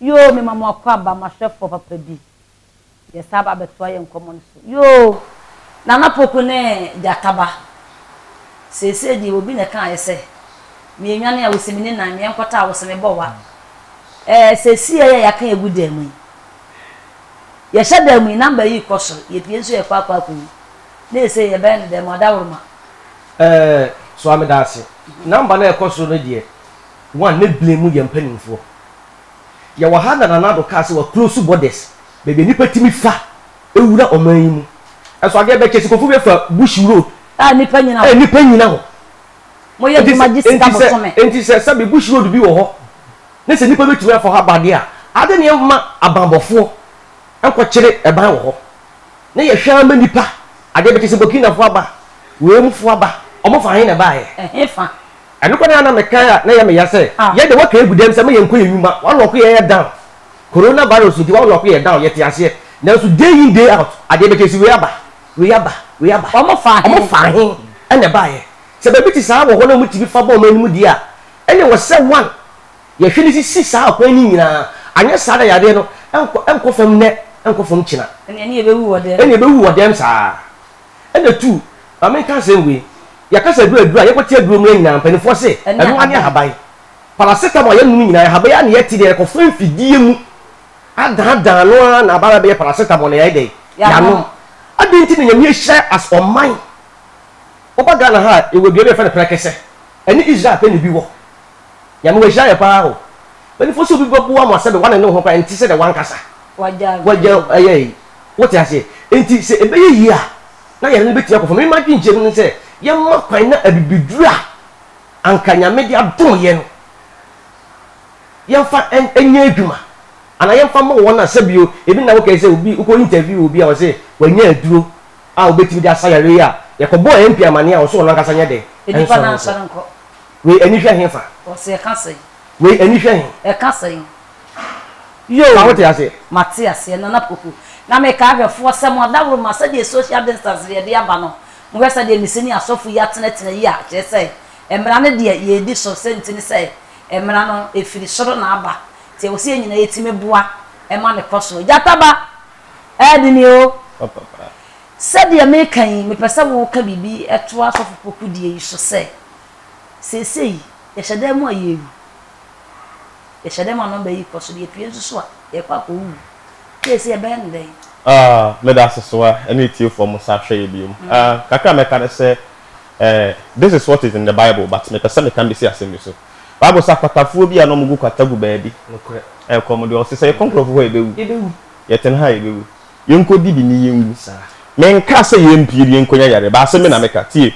Yoo me ma mo akɔ aba m'ahwɛfoɔ papa bi yɛ saa aba abɛtoa yɛn nkɔmmɔ no so yoo Nana Poku ne Gyata ba seesei deɛ obi na ɛkaeɛ sɛ meɛnwane a ɔsi me ne nan meɛnkɔtaa wo sɛ mebɔ wa ɛɛ sɛ siɛ yɛ yɛaka yɛgu dan mu yi Yɛhyɛ dan mu yi, number yi rekɔ soro, yɛpue nso yɛkɔ akɔ akɔwu. Na ɛsei yɛbɛyɛ no dɛn ma ɔdawroma? Ɛɛ, soa me daase. Number no a ɛrekɔ soro no deɛ, one, ne blen mu yɛ mpanimfoɔ. Yɛwɔ ha na Nana Addo kaa sɛ wa close borders, baabi a nnipa tumi fa wura ɔman yi mu. Ɛnso adeɛ bɛkyɛ, Sikofo bɛfa Bush road. A nnipa nyina hɔ. A nnipa nyina hɔ. Moyɛ adwuma gye sika bosome. Enti sɛ sɛbe bush road bi wɔ hɔ ne sɛ nnipa bɛtumi afa hɔ aba deɛ a, ade ne ɛmma abanbɔfoɔ nkɔkyere ɛban wɔ hɔ na yɛhwɛ ara ma nnipa adeɛ bɛkye sɛ Burkinafoɔ aba, wei mufoɔ aba, wɔn fa he na ɛbaeɛ? Ɛhe fa? Ɛno koraa na mekae a na ɛyɛ me ya sɛ yɛn deɛ wɔaka agu dam sɛ ma yɛnkɔ yɛn nnwuma, wɔalɔɔko yɛn yɛ down. Coronavirus nti wɔalɔɔko yɛn down, yɛte aseɛ nanso day in day out adeɛ bɛkye sɛ wei aba. Reaba, reaba. Wɔfaa he? Wɔfaa he na ɛbaeɛ? Sɛ baabi te saa wɔ hɔ na wɔtumi fa bɔ wɔn anim deɛ a, ɛnneɛ ɛwɔ sɛ one, yɛhwɛ no sisi saa akwan no nyinaa, anyɛ saa na yareɛ no nkɔ, nkɔ fam nnɛ, nkɔ fam kyena. Ɛnneɛ ne yɛbɛwu wɔ dɛm. Ɛnneɛ yɛbɛwu wɔ dɛm saa ara. Ɛnna two, ma menka asɛm wei, yɛaka sɛ aduro, aduro a yɛkɔte aduro mmrɛ nyinaa, mpanimfoɔ se, ɛno ara ne ahaban. Paracetamol a yɛnom nyinaa, ahaban yi ara na yɛte deɛ yɛkɔfa mfidie mu adaadaa no ara na aba abɛyɛ paracetamol na yɛayɛ dɛn? Yɛanom. Adɛn nti na Nyame ahyira as ɔman? Woba Ghana ha a, yɛwɔ dua bi a yɛfrɛ no prɛkɛsɛ. Ɛne Israel pɛ na ebi wɔ. Nyame wahyira yɛn paa o. Mpanyinfoɔ sɛ obi bɛboa mo a sɛbe wane ne ho koraa ɛnte sɛdeɛ wankasa. Wagya ɛyɛ yi. Wote aseɛ? Enti sɛ ɛbɛyɛ yie a na yare no bɛtumi akɔ fam. Me m'adwenkyerɛmu ne sɛ yɛmma kwan na abibiduro a anka Nyame de adom yɛn no, yɛmfa nyɛ adwuma anaa yɛmfa mmɔ wɔn a sɛbi ebi nna wokae sɛ obi wokɔ interview obi a ɔse wanya aduro a wobɛtumi de asa yare yi a yɛkɔbɔɔ MP amanneɛ a ɔse ɔno ankasa nyɛ dɛ nsɔre nkɔ wei ani hwɛ he fa Ɔse ɛka sɛn? wei ani hwɛ he? Ɛka sɛn? Yoo! Fa wote aseɛ? Mate aseɛ Nana Poku. Na meka ahwɛfoɔ sɛ mo adaworoma sɛdeɛ social distance no yɛde aba no mohwɛ sɛdeɛ me senior asɔfo yi atenatena yi a kyerɛ sɛ mmara no deɛ yɛredi so sɛ nti ne sɛ Mmara no firi soro na aba. Nti ɛwɔ sɛ yɛn nyinaa yɛtumi boa ma no kɔ so. Gyata ba, ɛɛde nie o. Sɛdeɛ meka yi, mepɛ sɛ woka biribi to asɔfo pokudeɛ yi so sɛ, seesei yɛhyɛ dan mu a yɛrewu. Yɛhyɛ dan mu a nɔmba yi rekɔ so. Yɛpue nso so a, yɛrekɔ akɔwuwu. Seesei yɛbɛyɛ no dɛn? Meda Asesoa ne atiefoɔ mo nsa hwɛeɛ bio. Kakra a mɛka ne sɛ, eh, this is what is in the Bible but mepɛ sɛ meka bɛsi asɛm bi so. Bible sɛ akwatafoɔ bi a na wɔgu kwata gu baabi. Nokorɛ. Ɛkɔ mo deɛ ɔse sɛ yɛkɔ nkurɔfoɔ hɔ a yɛbɛwu. Yɛbɛwu. Yɛtena ha a yɛbɛwu. Yɛnkɔdi bi ne yɛnwu. Saa. Menkaa sɛ yɛmpue ne yɛnkɔnya yareɛ but asɛm bi na meka. Tie.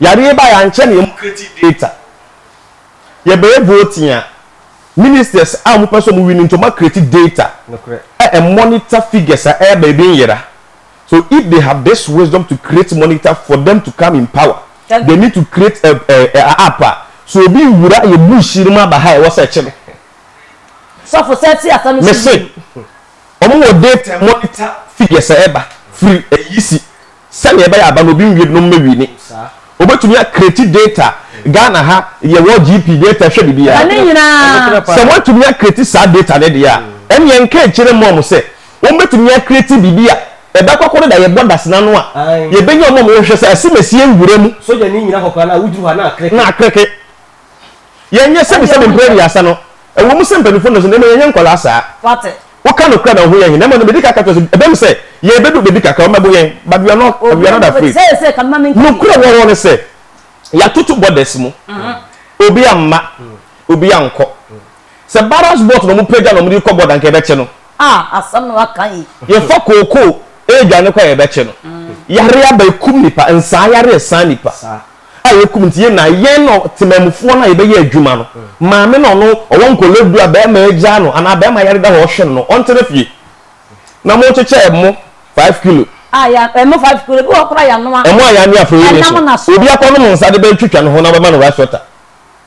Yareɛ baeɛ ankyɛ na yɛn create data. Yɛbɛyɛ voting a, ministers a wɔpɛ sɛ wɔwini nti wɔacreate data. Nokorɛ. A ɛmonitor figures a ɛreba ebi nyera. So if they have this wisdom to create monitor for them to come in power they need to create a a a app a so obi nwura yɛ bush yi mu aba ha ɛwɔ sɛ ɛkyɛ no. Sɔfo sɛ ti asɛm no so Mese bio. ɔmo wɔ date a monitor figures a ɛba firi ayi si sɛnea ɛbɛyɛ aba no obi nwie bi na ɔmo mɛ wini. Obetumi a create date a Ghana ha yɛwɔ GP date a ɛhwɛ biribiara. Ɛne nyinaa. Sɛ wɔatumi a create saa date no deɛ a ɛneɛ nka nkyerɛ mom sɛ Wɔn bɛtumi akreati biribi a ɛbɛkɔ koro da yɛbɔ dasena no a yɛbɛnya wɔn a wɔn hwɛ sɛ asemasie nwura mu na akreke yɛn nyɛ sɛbi sɛbi mpere aduasa no ɛwɔ mu sɛ mpanyinfo nnɔso na mmom yɛnyɛ nkɔlaa saa woka no kura na ɔho yɛn he na mmom no medi kaka kyerɛ so ɛbɛm sɛ yɛn bɛdu bɛbi kakra wɔn bɛbo yɛn but we are not we are not afraid no kura wɔwɔ no sɛ yɛatoto borders mu obi amma obi ankɔ. Sɛ ballast boat na wɔpagya na wɔde rekɔ board anka yɛbɛkye no. Ah asɛm na waka yi. Yɛfa kookoo redwane kɔ a yɛbɛkye no. Yare aba ɛkum nnipa, nsaa yare ɛsaa nnipa a ɛkum nti yɛn nyinaa yɛn na temanmufoɔ no a yɛbɛyɛ adwuma no. Maame no ɔno ɔwɔ nkwadaa du a barima agyaa no anaa barima yare da hɔ ɔhwɛ no no ɔntena fie na mokyekyɛ ɛmo five kilo. Ah ya ɛmo five kilo ebi wɔ hɔ koraa yanoa. Ɛmo a yanoa afei yɛn nso obi akɔnom nsa de bɛtwitwa ne ho na wɔbɛma no rice water.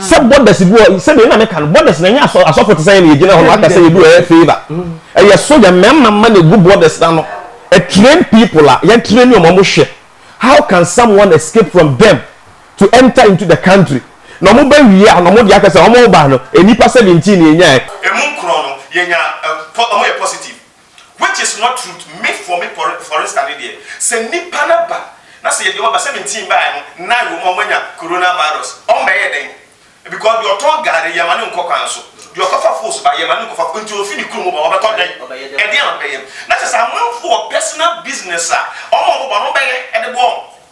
sɛ borders bi wɔ sɛdeɛ na meka no borders na ɛnyɛ asɔfo te sɛ yɛn yɛgyina hɔ no aka sɛ yɛdu ɛyɛ favour ɛyɛ so yɛ mmarima mma na ɛgu borders na no train people a yɛn train wɔn wɔn hwɛ how can someone escape from them to enter into the country na wɔn bɛ wie a na wɔn de aka sɛ wɔn ba no nnipa seventeen na ɛnyaɛ. emu nkorɔ no yɛnya wɔn yɛ positive Which is not truth, me for me por forista ne deɛ sɛ nnipa no ba na sɛ yɛde wɔn aba sɛ me nti baeɛ no nine wɔ mu a wɔn anya corona virus wɔn bɛyɛ dɛn because deɛ ɔtɔn gari yɛ ma no nkɔ kwan so deɛ ɔkɔfa fools ba yɛ ma no nkɔfa nti ofi ne kurom ba wɔn bɛtɔ dɛn ɛdeɛn na wɔn bɛyɛ na kyɛ sɛ amanfoɔ personal business a wɔn a wɔn bɛbɔ no wɔn bɛyɛ ɛde boɔ wɔn.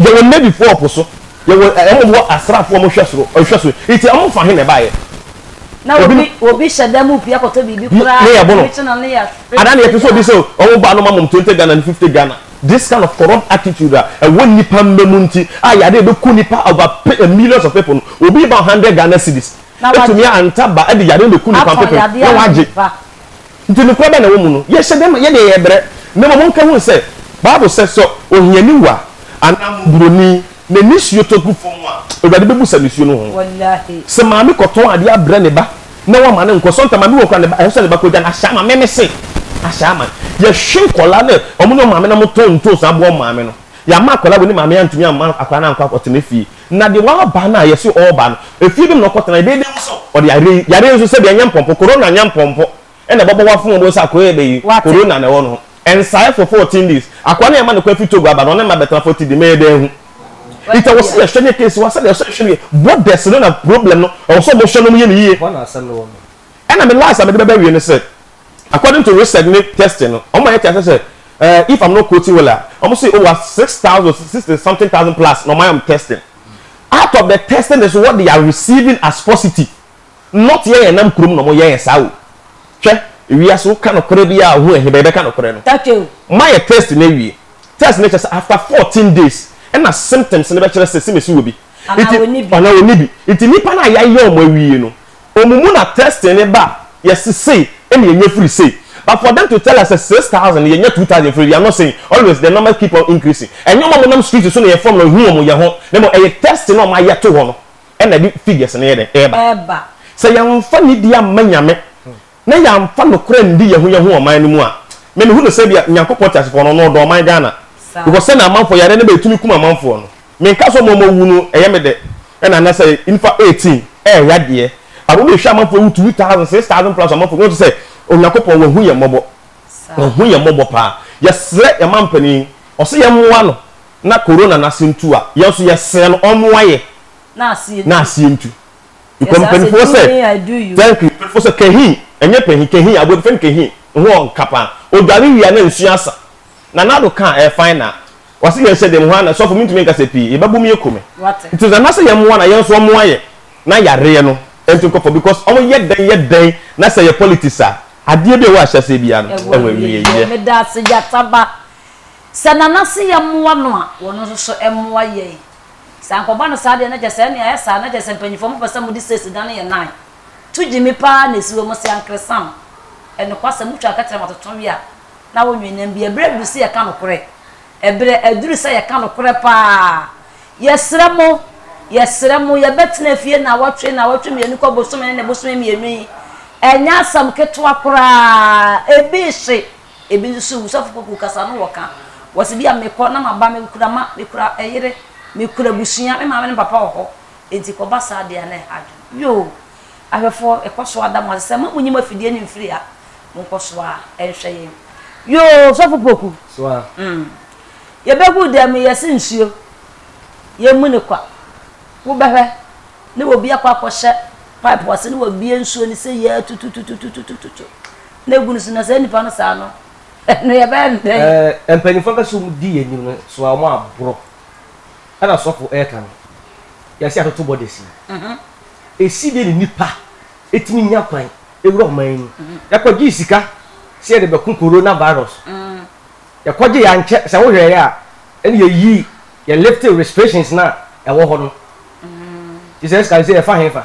Yɛwɔ navyfoɔ wɔ po so, yɛwɔ ɛ wɔn wɔ asraafoɔ wɔn hwɛ soro hwɛ so nti wɔn fa he na ɛbaeɛ? Na obi obi hyɛ dan mu pue akɔtɔ biribi koraa ne yɛbo no ɔbɛkye no ne yɛ anaa na yɛte sɛ obi sɛ wɔn baa no ma mom twenty Ghana ne fifty Ghana this kind of corrupt attitude a ɛwɔ nnipa mma mu nti a yare ɛbɛku nnipa over pe ɛ millions of people no obi ba hundred Ghana cedis ɛtumi a ntaba ɛde yare no bɛku nnipa mpepem na wɔagye. Nti nokora bɛn na ɛwɔ mu no? Yɛhyɛ dɛ ma yɛdeɛ yɛbrɛ, na mmom monka hunu sɛ, Bible sɛ, sɛ ohiani wu a, anaa mmɔborɔni, na nisuo tɔ gu fɔm a, Awurade bɛbu sa nisuo no ho. Sɛ maame kɔtɔn adeɛ abrɛ ne ba, na wama no nkɔ, sɔnta maame wu koraa ne ba, ɛsɛ sɛ ne ba kɔgya no, ahyɛ ama, me mese, ahyɛ ama. Yɛhwe nkɔlaa ne ɔmo ne ɔmaame na motɔn ntoosi aboa ɔmo maame no, yama akɔlaa wei ne maame antumi amma akɔlaa no ankɔ akɔtena fie, Na deɛ waba no a yɛse ɔreba no, efie bem na ɔkɔtena, ɛbɛyɛ dɛn nso sɛ ɔde yareɛ yi, yareɛ nso sɛdeɛ ɛnyɛ mpɔmpɔ, Corona nyɛ mpɔmpɔ, ɛna ɛbɛbɔ wo afom wobɛhu sɛ akoa yi bɛyi, Corona na ɛwɔ ne ho. Ɛnsaeɛ for fourteen days. Akoa no a yɛma no kwan firi Togo aba no, ɔne mma bɛtena forty days, mɛyɛ dɛn ahu? Nti ɛwɔ sɛ yɛhwɛ ne case, wɔ sɛdeɛ ɛwɔ sɛ yɛhwɛ no yie, borders no na problem no, ɛwɔ sɛ wɔhwɛ na wɔyɛ no yie. Ɛna me last a mede bɛba awie ne sɛ, According to research ne testing no, wɔn ma yɛte aseɛ sɛ eh, if I'm not quoting well a, wɔn se over six thousand, sixty something thousand plus na wɔn ayɛ wɔn testing. Out of the testing is what they are receiving as positive. Not yɛn yɛn nam kurom na wɔn yɛ yɛn saa o. Hwɛ, ewiase woka nokorɛ bi a ohu ɛhe bɛyɛ bɛka nokorɛ no. Ma yɛ test no awie. Test no kyɛ sɛ after fourteen days ɛna symptoms no bɛkyerɛ sɛ simesi wɔ bi. Anaa wɔnni bi. Nti nnipa no a yɛayɛ wɔn awie no, Ɔmo mu na testing no ba a yɛse sei na yɛnya firi sei but for them to tell us sɛ six thousand yɛnya two thousand firi we are not saying always the numbers keep on increasing ɛnyɛ ɔmo a ɔmo nam street so na yɛfrɛ ɔmo na yɛhu ɔmo yɛ ho na mmom ɛyɛ testing a ɔmo ayɛ to hɔ no na ɛde figures no yɛ dɛn ɛɛba. Sɛ yɛnfa nidie amma Nyame na yɛamfa nokorɛ anndi yɛho yɛho wɔ ɔman no mu a, me mehu no sɛ ebia Nyankopɔn teasefoɔ no, ɔno ɔdɔ ɔman Ghana, because sɛdeɛ amanfoɔ yareɛ no ba ɛtumi kum amanfoɔ no, menka sɛ wɔn a wɔn wu no ɛyɛ me dɛ, ɛna na sɛ nnipa eighteen ɛɛyadeɛ a wɔn ɛhwɛ amanfoɔ ɛwu two thousand, six thousand plus amanfoɔ, wɔn te sɛ Onyankopɔn wahu yɛn mmɔbɔ, wahu yɛn mmɔbɔ paa, yɛsrɛ yɛn mampanin, ɔse yɛn mmoa no na Corona no ase ntu a, yɛn nso yɛsrɛ no ɔmmoa yɛ na aseɛ ntu. Because I say do me I do you. Thank you mpanyinfoɔ sɛ kahin ɛnyɛ panyin kahin aboɛ fɛn kahin ho wɔ nka paa odware wia na nsuo asa na nado ka ɛɛ fine na wasi yɛn hyɛ dɛm hɔ ana sɔfo mintumi nkasa pii yɛ bɛ bom yɛ kome nti sɛ anasɛ yɛn moa na yɛn nso ɔmoa yɛ na yareɛ no ɛnti nkɔfɔ because ɔmo yɛ dɛn yɛ dɛn na sɛ yɛ politics a adeɛ bi a ɛwɔ ahyɛseɛ biara no ɛwɔ awieɛ. Medaase gyataba sɛ nanase yɛ moa no a wɔn nso so ɛmoa yɛn. Sɛ ankɔba no saa deɛ na kyerɛ sɛ ɛnneɛ ayɛ saa na kyerɛ sɛ mpanyinfoɔ mopɛ sɛ mode state dan yɛ nan to gyimi paa na ɛsi hɔ mo se ankeresam ɛnokwasɛm motwa kɛtɛrɛ ma toto we a na wo nwe nam bi ɛberɛ aduru sɛ yɛka nokorɛ ɛberɛ aduru sɛ yɛka nokorɛ paa yɛsrɛ mo yɛsrɛ mo yɛbɛtena fie naawɔtwe naawɔtwe mmienu kɔ bosome ne ne bosome mmienu yi ɛnyɛ asɛm ketewa koraa ɛbi hye. Ebi nso wu sɔfo poku kasa no wɔka wɔse bia mekɔ na maba me kura ma me kura ɛyere me kura abusua me maame ne me papa wɔ hɔ enti kɔ ba saa deɛ a na ɛha adwene yoo ahwɛfoɔ yɛkɔ so ada mo ase sɛ ma mo nyi mo afidie no mfiri ha mo nkɔ so a ɛnhwɛ yɛn yoo sɔfo poku mm yɛbɛgu dɛm mu yɛse nsuo yɛn mu ne kwa wo bɛhwɛ ne wɔ bi akɔ akɔ hyɛ pipe ase ne wɔ bie nsuo ne sɛ yɛ tutututututututu na egu no so na saa nipa no saa no, ɛno yɛbɛyɛ no dɛn? Ɛɛ, mpanyimfo ankasa a wɔdi yɛn anim no so a wɔaboro ɛna sɔfo reka no, yɛasi atoto bɔ da si. Esi dɛn na nnipa tumi nya kwan wura ɔman yi mu? Yɛkɔgyee sika sɛ yɛde bɛko Corona virus. Yɛkɔgyee ankyɛ sɛ wohwɛeɛ a ɛna yɛyii yɛ lifted restrictions no a ɛwɔ hɔ no. Nti saa sika no sɛ yɛfa hefa?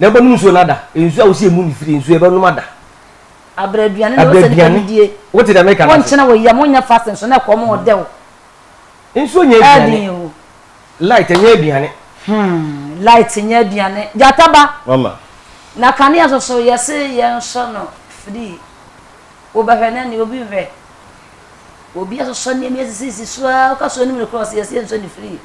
Na ɛbɛnom nsuo no ada. Nsuo a wosi emu no firi nsuo ɛbɛnom ada. Abrɛ aduane na wosɛ nipa no die. Wote deɛ meka no ase. Wonkyena wɔ yam wonyɛ fasting nso na ɛkɔm ɔdɛ wo. Nsuo nyɛ aduane. Light ɛnyɛ aduane. Hmm light nyɛ aduane. Gyata ba. Mama. Na kanea nso so yɛse yɛnsɔ no free. Wobɛhwɛ no ɛne obi nhwɛ. Obi asosɔ nneɛma yi asisisisi so ara, woka sɛ onim nokorɛ a, ɔse yɛse yɛnsɔ ne firi.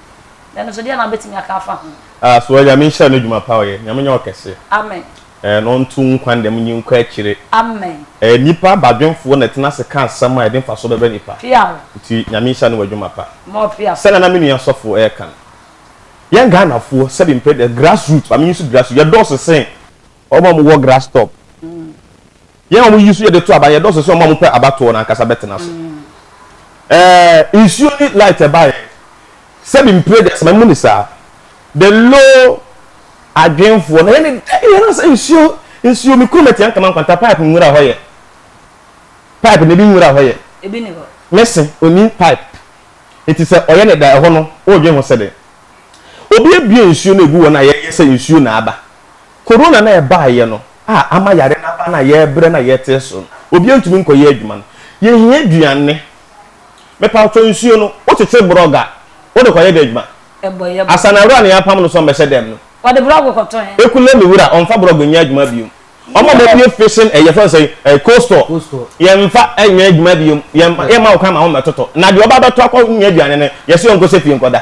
Na ɛno nso deɛn na wobɛtumi aka afa ho? Ah soɔ Nyame nhyira no dwuma pa ɔyɛ Nyame nyɛ wo kɛse Amen. eh na ɔnto wo nkwa ndam nyi nkɔ akyire Amen. eh nipa badwenfoɔ na ɛtena ase ka asɛm a ɛde mfasoɔ bɛbrɛ nipa Pia ho. nti Nyame nhyira no w'adwuma pa More pia so. sɛnea na me nua sɔfo ɛɛka no yɛn Ghanafoɔ sɛbi mpɛ grass root ba me use grass root yɛdɔɔso sɛn wɔn a wɔwɔ grass top. Yɛn a wɔyi so yɛ de to aban, yɛdɔɔso sɛ wɔn a wɔpɛ abatoɔ no ankasa bɛtena so. Ɛɛ, nsuo ne light ɛbaeɛ. Sɛbi mpire deɛ asɛm mu ne saa. The low adwenfoɔ na yɛne da yɛn asa nsuo, nsuo me kuro mɛtia nkama nkwanta pipe nwura hɔ yɛ. Pipe na ebi nwura hɔ yɛ. Ebi ni hɔ. Mɛsi oni pipe. Eti sɛ ɔyɛ ne da ɛhɔ no, ɔredwen ho sɛ dɛn? Obi abue nsuo na egu hɔ na yɛyɛ sɛ nsuo na aba. Korona no a ɛbaeɛ no a ama yare no aba no a yɛrebrɛ no a yɛte so no, obiara ntumi nkɔyɛ adwuma no, yɛhia aduane. Mepaw kyɛw, nsuo no, wokyekyere borɔg a, wode kɔyɛ dɛn adwuma? Ɛbɔ yɛ bɔ. Asanawura nea apam no sɛ ɔmmɛhyɛ dɛm no. Ɔde borɔg kɔtɔ he? Ekulemi wura, ɔmfa borɔg nyɛ adwuma biom. Wɔn a wɔbue fishing ɛyi, yɛfrɛ no sɛn, ɛɛ cold store, Cold store. yɛmfa nyɛ adwuma biom. Yɛmma, yɛmma wo kwan ma wɔmmɛtotɔ. Na deɛ ɔba abɛtɔ akɔnya aduane no, yɛse ɔnkɔhyɛ fie nkɔda.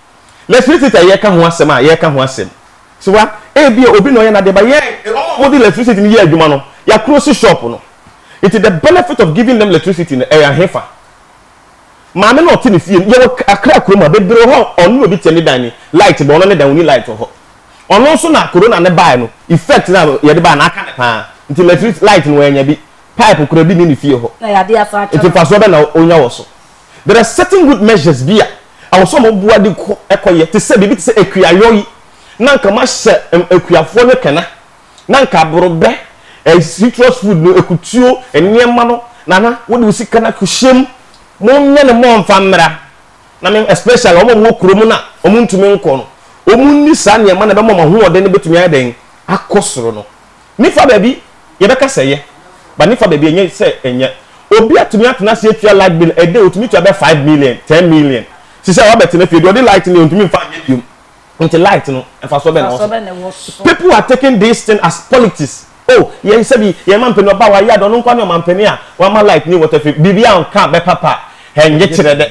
Lɛtrisiti a yɛreka ho asɛm a yɛreka ho asɛm. So wa? Ebia obi na ɔyɛ n'adeɛ ba yɛn wɔn a wɔde lɛtrisiti no yɛ adwuma no yɛakorosi shop no. Nti the benefit of giving them lɛtrisiti no ɛyɛ ahefa? Maame no a ɔte ne fie no yɛwɔ Accra kurom ha bebree wɔ hɔ a ɔne obi te ne dan ni light bɔ ɔno ne dan ɔni light wɔ hɔ. Ɔno nso na corona no baeɛ no effect no a yɛde baeɛ no aka no paa nti lɛtrisiti light no wanya bi pipe koraa bi nni ne fie hɔ. Na yɛade asan atwa no. Nti mfasoɔ bɛn na ɔnya wɔ so? There are certain good measures bi a ɛwɔ sɛ wɔboa de kɔ ɛkɔ yɛ te sɛ biribi te sɛ akuayɔ yi na nka mahyɛ ɛm akuafoɔ no kɛnɛ na nka aborɔbɛ ɛɛ citrus food no akutuo nneɛma no nana wode wo sika no akɔhyɛ mu monyɛ no mmɔ mfa mmra na me especially wɔn a wɔwɔ kurom no a wɔntumi nkɔ no wɔn nni saa nneɛma na ɛbɛma wɔn ahoɔden no bɛtumi ayɛ dɛn akɔ soro no Ne fa baabi yɛbɛka sɛ ɛyɛ but ne fa baabi ɛnyɛ sɛ ɛnyɛ. Obi atumi atena ase atua light bill a day ɔtumi tua bɛyɛ five million, ten million. Te sɛ wabɛtena fie deɛ ɔde light no deɛ ɔntumi mfa nyɛ biom. Nti light no mfasoɔ bɛn na ɛwɔ so? People are taking this thing as politics oh yɛn sɛbi yɛn mampanin ɔba a wayɛ ade ɔno nkoa ne ɔmampanin a wama light ne water free biribi anka a bɛpa pa a ɛngye kyerɛ dɛ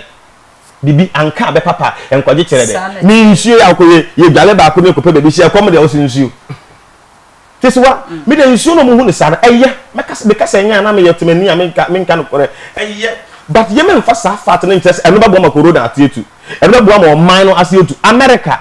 biribi anka a bɛpa pa a ɛnkɔgye kyerɛ dɛ ne nsuo yɛ akɔ yɛ yɛdwale baako ne kɔpɛ baabi hyɛ ɛkɔm deɛ ɔsɛ nsuo. Kesewa, me de nsuo na ɔmuhu no saa no, ɛyɛ, mɛka, meka sɛ ɛnyɛ a na meyɛ temani a menka, menka nokorɛ, ɛyɛ, but yɛma nfa saa fact no nkyerɛ sɛ ɛno bɛboa ma Corona ate atu, ɛno bɛboa ma ɔman no ase atu, America,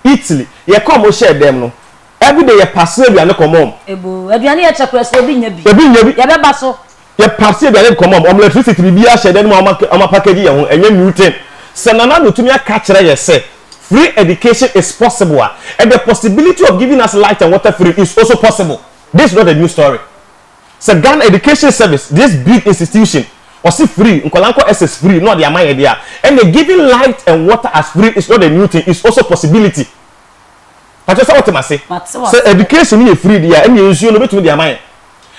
Italy, yɛ kɔɔ ɔmo hyɛɛ dɛm no, everyday yɛ pass aduane kɔma ɔmo. Eboo, aduane yɛ kyɛ koraa sɛ obi nnya bi, Obi nnya bi. yɛbɛba so, Yɛ pass yɛ aduane nkɔmɔ ɔmo lɛtrisiti biribi ahyɛ dɛn mu a ɔmo apakɛgyi yɛ ho ɛnyɛ new tin sɛ nana ado tumi aka kyerɛ yɛ sɛ free education is possible a ɛdɛ possibility of giving us light and water free is also possible this is not a new story sɛ Ghana education service this big institution ɔse free nkɔla nkɔ SS free na ɔde ama yɛ deɛ a ɛnɛ giving light and water as free is not a new tin is also possibility. Pakyɛ sɛ wote m'ase? Sɛ education no yɛ free deɛ a, ɛnneɛ nsuo no wobɛtumi de ama yɛn.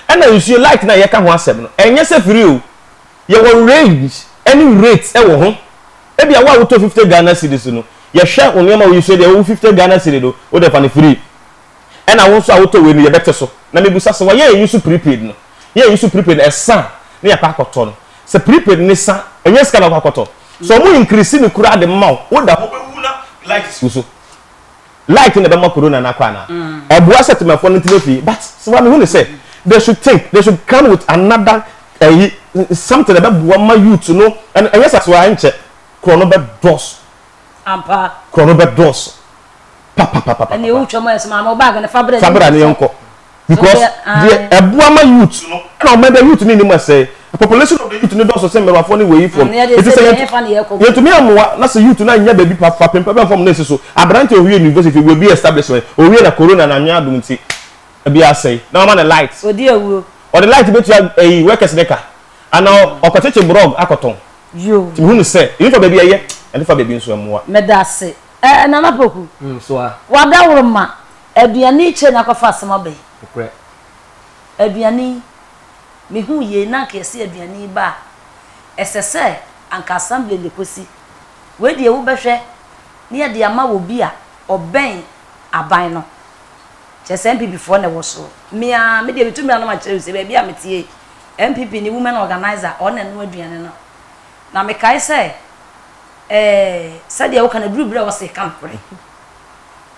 Ɛna nsuo light no a yɛka ho asɛm no, ɛnyɛ sɛ free o. Yɛwɔ range ɛne rate ɛwɔ ho. Ebia wo a wotɔ fifty Ghana cedis no, yɛhwɛ wo nneɛma a woyi so deɛ ɛwɔ wo fifty Ghana cedi no, wodeɛ fa no free. Ɛna wo nso a wotɔ wei no, yɛbɛte so. Na mebisa sɛ wɔyɛ yɛn yi so prepaid no? Yɛn yi so prepaid no, ɛsa a na yɛakɔ akɔtɔ no, sɛ prepaid no sa, ɛnyɛ sika na wokɔ akɔtɔ. Sɛ wɔn increase no koraa de ma wo, woda hɔ wobɛwu na light si wo so. light na ɛbɛma corona no akɔ anaa? Ɛboa sɛ temafo no ntena fie but sewa mehu ne sɛ they should think they should come with another ɛyi something ɛbɛboa ma youth no ɛn ɛnyɛ sa sewa ɛnkyɛ korɔ no bɛdɔɔso ampa korɔ no bɛdɔɔso papapapapapa ɛne ɛwotwa mu ayɛ sɛ maame wo bag no fa brɛ fabra ne yɛnkɔ. Because deɛ ɛboa ma youth no ɛna ɔman bɛ youth no nim ɛsɛ population of the youth no dɔɔso sɛ mmɛwafoɔ ne wei fam eti sɛ yɛtumi amoa na sɛ youth no anya baabi pa fa pempa bɛ fam na esi so aberante owie university wɔ bi establishment owie na corona na anwea adum ti ebi asɛe na ɔma ne light odi awuro ɔde light bɛtua ɛyi workers ne ka ana ɔkɔkyekye brɔg akɔtɔn tumi hu no sɛ ebi fa baabi ɛyɛ ɛde fa baabi nso ɛmoa. meda ase ɛɛ nana poku wada woro ma. Aduane yi kyerɛ nakɔ fa asɛm aba yi. Nokorɛ. Aduane yi, me huu yei na anka yɛse aduane yi ba a, ɛsɛ sɛ anka assembly na ɛkɔsi. Wei deɛ wo bɛhwɛ na yɛde ama wɔ bi a ɔbɛn aban no. Kyerɛ sɛ NPP foɔ na ɛwɔ soɔ. Me ara, me deɛ me tumi anom akyerɛ wo sɛ baabi a me teɛ yi, NPP ni women organiser ɔno na ɛnoa aduane no. Na me kae sɛ, eh, sɛdeɛ wo ka no, aduru berɛ a ɛwɔ sɛ yɛ ka nokorɛ.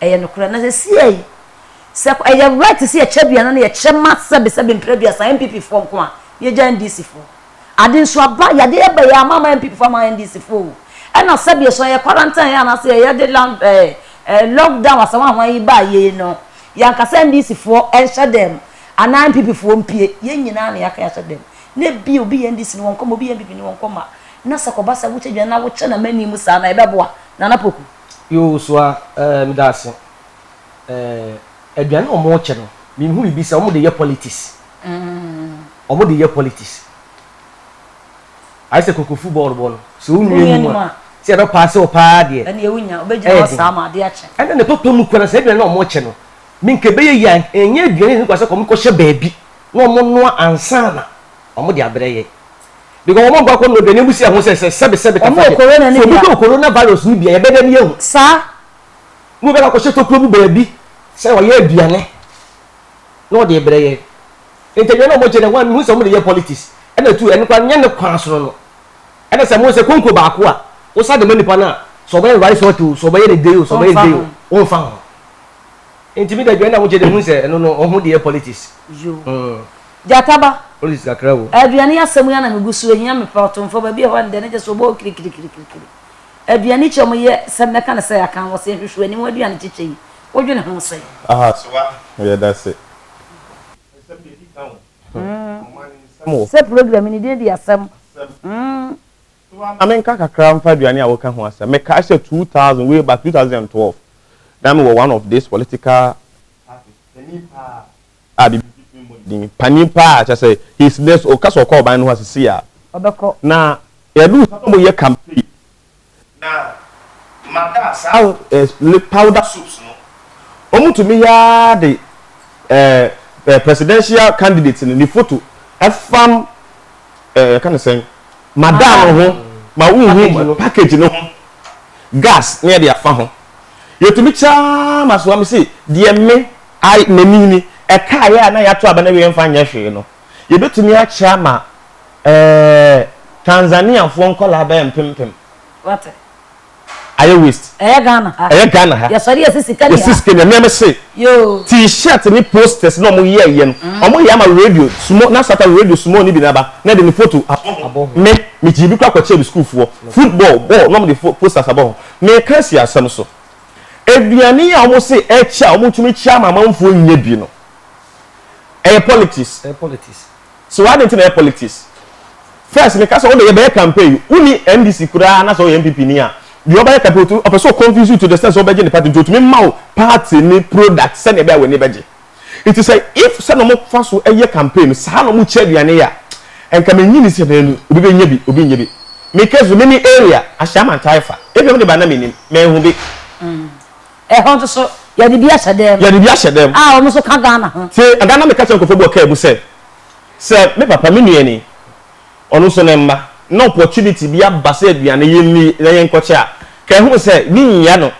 Ɛyɛ nokorɛ. Na seesei yi, sɛ ɛyɛ right sɛ yɛkyɛ aduane no, yɛkyɛ ma sɛbe sɛbe mpere aduasa, NPP foɔ nko a, na yɛgya NDC foɔ. Ade nso aba, yadeɛ aba yi, ama ama NPP foɔ ama NDC foɔ o. Ɛna sɛbe so yɛ quarantine anaasɛ yɛde land eh, eh, lock down asawanhoa yi baa yei no, yɛanka sɛ NDC foɔ nhyɛ dɛm anaa NPP foɔ mpie. Yɛn nyinaa na yɛaka yɛahyɛ dɛm. Na ebia obi yɛ NDC ni wɔnkɔ mma, obi yɛ NPP ni wɔnkɔ mma. Na sɛ kɔba sɛ wokyɛ aduane na wokyɛ no amani mu saa no a, ɛbɛboa? Nana Poku. Yoo so a eh me da ase eh. Aduane na ɔmo kyɛ no me hu bibi sɛ ɔmo de yɛ politics ɔmo de yɛ politics ayɛ sɛ koko football bɔ no sɛ wo nua nim a sɛ yɛbɛ paase wo paa deɛ ɛneɛ wo nya wobɛ gyina hɔ saa ma ade akye ɛna ne papa mu kura sɛ aduane na ɔmo kyɛ no me nka ɛbɛyɛ yie a ɛnyɛ aduane ne kwa sɛ kɔmo kɔ hyɛ baabi na ɔmo noa ansa na ɔmo de abrɛ yɛ. Because wɔn bɔkɔ no dwene mu si ɛho sɛ sɛ sɛbi sɛbi kafa deɛ. So obi dɔ corona virus no bia yɛbɛ dɛ ni ehu. Saa. Mo bɛ kakɔ hyɛ tokuro mu baabi sɛ ɔyɛ aduane na ɔde brɛ yɛn. Nti aduane a wɔn kyɛ no wɔn mihu sɛ wɔn de yɛ politics ɛna tu ɛno kora nyɛ ne kwan sono no. Ɛna sɛ mo sɛ konko baako a wosa de ma nipa no a sɛ ɔbɛyɛ rice hot o sɛ ɔbɛyɛ ne dei o sɛ ɔbɛyɛ ne dei o wɔn nfa ho. Nti mi de aduane a wɔn kyɛ de mihu sɛ ɛno no wɔn de yɛ politics. Yoo. Gyata ba, aduane asɛm yi ara na megu so, ɛhia me paa, ɔtomfoɔ ba bi wɔ hɔ a, nnɛ no gye sɛ ɔbɔ hɔ kirikirikirikiri. Aduane kyɛ mu yɛ, sɛ mɛka no sɛ aka a, wɔse nhwehwɛ ani ho aduane kyekyɛ yi, wodwene ho sɛn? Aha so a, yɛ da se. Nsɛm deɛ di ka o, ɔma ne nsɛm o. Sɛ program yi ne din de asɛm. So a, ma menka kakra mfa aduane a woka ho asɛm. Mekae sɛ two thousand, way back two thousand and twelve, na mewɔ one of this political parties panin paa, a biribi ntumi mmɔ ne din, panin paa, kyerɛ sɛ he is less, ɔka sɛ ɔkɔ ɔban no hɔ a seesei a ɔbɛkɔ, na yɛduu hɔ no na wɔreyɛ campaign, na mada saa eh, powder soaps no, wɔtumi yɛ ara de eh, presidential candidate no ne photo ɛfam eh, yɛka no sɛn, mada no ho ma wohu package no ho, gas ne yɛde afa ho, yɛtumi kyɛ ara ma soa me se deɛ me a n'ani ni, ɛkaeɛ a na yɛato aba no awie mfa nyɛ hwee no, yɛbɛtumi akyɛ ama ɛɛ Tanzaniafoɔ nkwadaa bɛyɛ mpempem. Wate. Ayɛ waste. Ɛyɛ Ghana ha. Ɛyɛ Ghana ha. Yɛsɔre yɛsi sika ni ha. Yɛsi sika ni ha. Mmea me se. Yoo. T-shirt ne posters na wɔn yɛ yɛ no. Mm. Wɔn yɛ ama radio sumo na sata radio sumo ni bi na ba na de ne photo abɔ ho. Abɔ ho. Me me gyi bi kɔ akɔkyɛ bi sukuufoɔ. Football ball na wɔn de posters abɔ ho. Me ka si asɛm so. Aduane yi a wɔse ɛkyɛ a wɔtumi kyɛ ama amanfoɔ nnya bi no, ɛyɛ politics. Ɛyɛ politics. So adɛn nti na ɛyɛ politics? First meka sɛ wo de yɛbɛyɛ campaign yi, wonni NDC koraa na sɛ woyɛ NPP ni a, deɛ ɔbɛyɛ campaign ɔtumi ɔpɛ sɛ ɔconvince you to the extent sɛ wobɛgye ne party nti ɔtumi ma wo party ne product sɛdeɛ ɛbɛyɛ a w'ani bɛgye. Nti sɛ if sɛ na ɔmo fa so yɛ campaign no saa na ɔmo kyɛ aduane yɛ a, nka minnye nni sɛ bɛanu obi bɛnya bi, obi nnyɛ bi. Me case no, me ne area Ahyiaman ntaa fa. Ebia mo de ba na minnim, manhu bi. Ɛhɔ nso so, yɛde bi ahyɛ dan mu. Yɛde bi ahyɛ dan mu. A wɔn nso ka Ghana ho. Te ɛda na meka kyerɛ nkorɔfoɔ bi wɔ car mu sɛ, sɛ me papa, me nua ni, ɔno nso ne mma, na opportunity bi aba sɛ aduane yɛnni na yɛnkɔkyɛ a, ka ɛho sɛ, mennya no.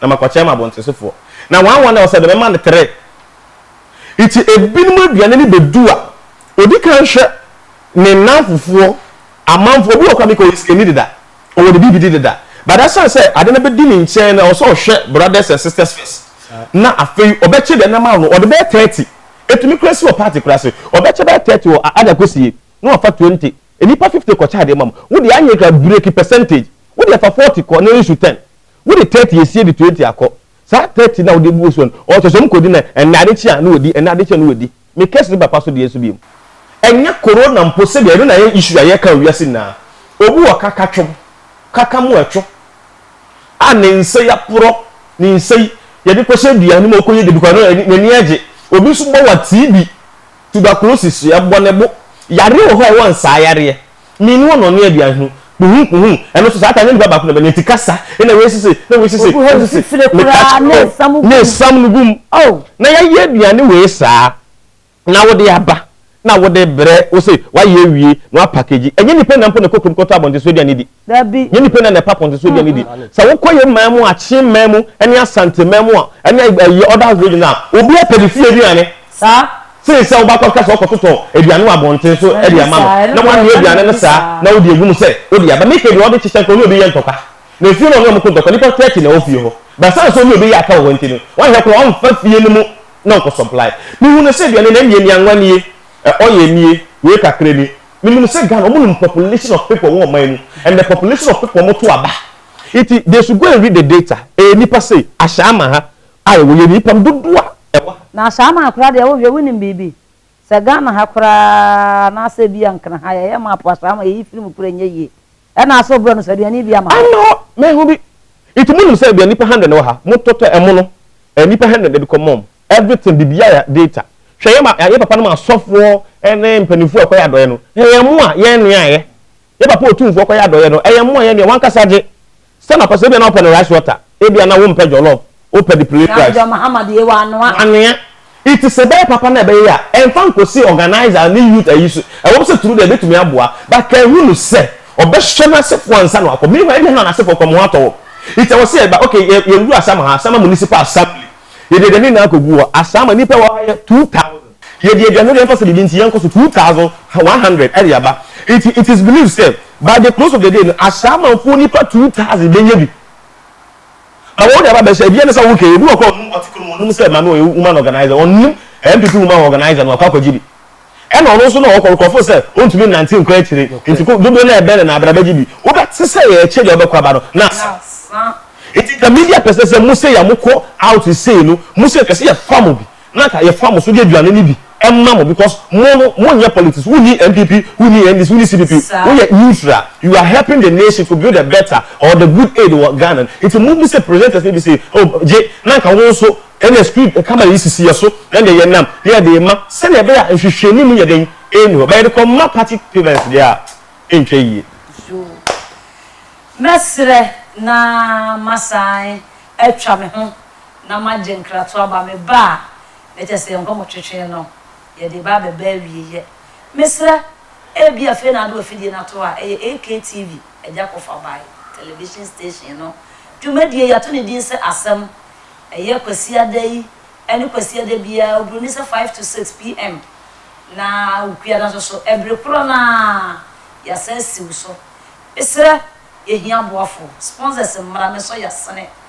na makɔkyɛɛ m'abontesefoɔ, na wɔn a wɔn na wɔsɛ bɛmɛma no tere. Nti ebinom aduane no bɛdu a, ɔdi kan hwɛ ne nnamfofoɔ, amanfoɔ, obi wɔ hɔ koraa meka ɔyɛ sikani deda, ɔwɔ ne biribi di deda, but asiane sɛ ade no bɛdi ne nkyɛn no, ɛwɔ sɛ ɔhwɛ brothers and sisters first, na afei ɔbɛkyɛ deɛ nam ano, ɔde bɛyɛ thirty, ɛtumi koraa si wɔ party koraa ase, ɔbɛkyɛ bɛyɛ thirty wɔ a ada kɔsie, na wafa twenty, nnipa fifty kɔkyɛ adeɛ ma mo, wo deɛ anyɛ koraa, breki percentage, wo deɛ fa forty kɔ na nsu ten, Wode tɛɛte esie de tuatua kɔ. Saa tɛɛte no a wode agu so no, ɔtɔ so a mokɔdi no ɛnnɛ adekye a, na wadi, ɛnnɛ adekye a, na wadi. Me kɛse no papa so deɛ nso biom. Ɛnyɛ Corona mpo sɛdeɛ ɛno na ɛyɛ issue a yɛka wɔ wiase nyinaa. Obi wɔ kaka twom, kaka mu ɛtwo a ne nsa yi aporɔ, ne nsa yi yɛde kɔhyɛ aduane mu a ɔkɔyɛ dede koraa no n'ani agye. Obi nso bɔ wa TB, tuberculosis, ɛbɔ ne bo. Yareɛ wɔ hɔ a ɛwɔ nsaa yareɛ. Mini wɔn na ɔne aduan ho. Kpuhum kpuhum. Ɛno nso saa ta nyɛ nipa baako na ɛbɛ ne ti kasa. Ɛna wei sisi na wei sisi. Oguhɔ ne fifire koraa ne nsam gum. Ne nsam no gum. Oh. Na yɛayɛ aduane wei saa na wode aba na wode brɛ wo se wayɛ awie na wapakegyi. Ɛnyɛ nipa nyinaa mpo na ɛkɔ kurom kɔtɔ abɔnten so aduane di. Dabi. Ɛnyɛ nipa nyinaa na ɛpɛ apɔnten so aduane di. Sɛ wokɔ yɛn man mu, Akyem man mu, ɛne Asante man mu a, ɛne ɛyi other region a, obiara pɛ ne fie aduane. saa. Sen sɛ wobɛkɔka sɛ wokɔtotɔ aduane wɔ abɔnten so de ama no, na woanoa aduane no saa na wode agu mu sɛ wode aba. Mika deɛ, ɔde kyekyɛ nka ɔne obi yɛ ntɔkwa, na efie no ɔne wɔn ko ntɔkwa. Nnipa thirty na ɛwɔ fie hɔ, but ɛsiane sɛ ɔne obi yɛ aka wɔ hɔ nti no, wanhwɛ koraa ɔmfa fie no mu na ɔnkɔ supply. Mehu no sɛ aduane no, ɛneɛ nnuanwa nie, oil nie, wei kakra ni. Menim sɛ Ghana, wɔnim population of people wɔ ɔman mu and the population of people wɔto aba. Nti they should go and read the data, ɛyɛ nnipa sei, ahyɛ ama ha, Ai woyɛ nipa no dodoɔ a ɛwɔ ha. Na Shaman koraa deɛ wohwɛ wonim biribi? Sɛ Ghana ha koraa anaasɛ ebia Nkran ha yɛyɛ map a saa ma yɛyi firi mu koraa ɛnyɛ yie. Ɛna asɛ ɔbrɛ no so aduane yi bi ama hɔ. Ama hɔ, mɛho bi. Nti monim sɛ ebia nipa hundred na ɛwɔ ha, mo totɔ ɛmo no ɛɛ nipa hundred na ɛdekɔ mom everything biribiaa yɛ data. Hwɛ yɛ ma yɛ papa nom asɔfoɔ ɛne mpaninfoɔ a ɛkɔyɛ adɔeɛ no, ɛyɛ ɛmo a yɛnoa ɛɛ Yɛn Papa Otumfoɔ kɔyɛ adɔeɛ no, ɛyɛ mmoa, ɛyɛ nea w'ankasa gye sɛ na ɔpɛ, sɛ ebia na wopɛ no rice water, ebia na wompɛ jollof, wopɛ the plain rice. John Mahama deɛ wanoa. Wanoa. It is ɛbɛyɛ papa na ɛbɛyɛ a, ɛmfa nkɔsi organiser ne youth ayi so, ɛwɔm sɛ through there ɛbɛtumi aboa, but kanhunu sɛ ɔbɛhwɛ n'asefoɔ ansa na wakɔ, meanwhile ebia na n'asefoɔ kɔ, mo ho atɔ wɔm, it ɛwɔ sɛ yɛba, okay, yɛn yɛn duru Asama ha, Asama Municipal Assembly, yɛde yɛn ani nyinaa kɔgu hɔ, Asama, nnipa ɛwɔ ha yɛ two thousand. Yɛde aduan no reɛmfa sɛ biribi nti yɛnkɔ so, two thousand one hundred ɛde aba. Nti it is believed sɛ by the close of the day no Ashamanfoɔ nipa two thousand bɛnya bi na wɔde aba abɛhyɛ. Ɛdeɛ ne sɛ ok, obi wɔ hɔ koraa a ɔnnim ɔte kurom, ɔnnim sɛ Maame ɔyɛ woman organiser, ɔnnim NPP woman organiser no, wakɔ akɔgye bi. Ɛna ɔno nso na ɔkɔ, nkurɔfoɔ sɛ ɔntumi nnante nkɔ akyire, nti ko, dodoɔ no ara ɛbɛn no na abra bɛgye bi. Wobɛte sɛ yɛrekyɛ deɛ ɔbɛkɔ aba no, na asa. Nti nka media pɛ sɛ sɛ mose yɛ a mokɔ out sei no, mose nka sɛ yɛfa mo bi. na nka yɛfa mo so de aduane no bi ma mo because mo no mo nyɛ politics wo ni NPP wo ni NDC wo ni CPP wo yɛ neutral you are helping the nation to build a better or the good aid wɔ Ghana no nti mo bi sɛ presenters no bi sɛ oh gye na nka wo nso ɛna screen camera yi sisi yɛ so ɛna yɛ nam na yɛ de ma sɛnea ɛbɛyɛ a nhwehwɛ ni mu yɛ den ɛni hɔ bɛyɛ de kɔ ma party payments deɛ a ɛntwa yie. Yoo mɛsrɛ na masan atwa me ho na magye nkrato aba me ba a na kyerɛ sɛ yɛn nkɔmɔtwetwe no yɛde reba abɛba awieɛ. Mesrɛ, ebia afei na ade wɔ afidie no ato a ɛyɛ AKTV, Agya Kofabae Television Station no. Dwumadie yi, ato ne din sɛ Asɛm. Ɛyɛ Kwasiada yi ne Kwasiada biara oburoni sɛ five to six PM na Awukuada nso so ɛbere korɔ no ara yɛasan asiw so. Mesrɛ, yɛhia aboafoɔ, sponsors mmra, mesɔ yɛasene.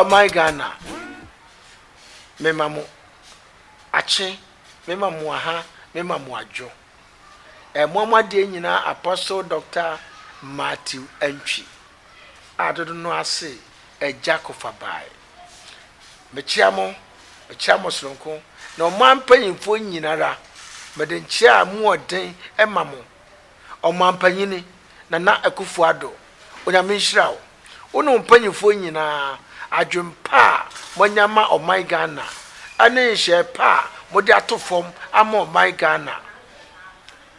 Ɔman Ghana, mema mo akye, mema mo aha, mema mo adwo. Ɛmoa mo adeɛ nyinaa Apostle Doctor Matthew Antwi a dodo no ase Agya Kofabae. Mekyea mo, mekyea mo soronko ne ɔman mpanyimfoɔ nyina ara. Mede nkyea a mu ɔden ma mo, Ɔmampanyini Nana Akufo-Addo. Onyame nhyira wo, wo ne wo mpanyimfoɔ nyina ara, adwene pa a moanya ma ɔman Ghana ne nhyɛɛ pa a mode ato fam ama ɔman Ghana.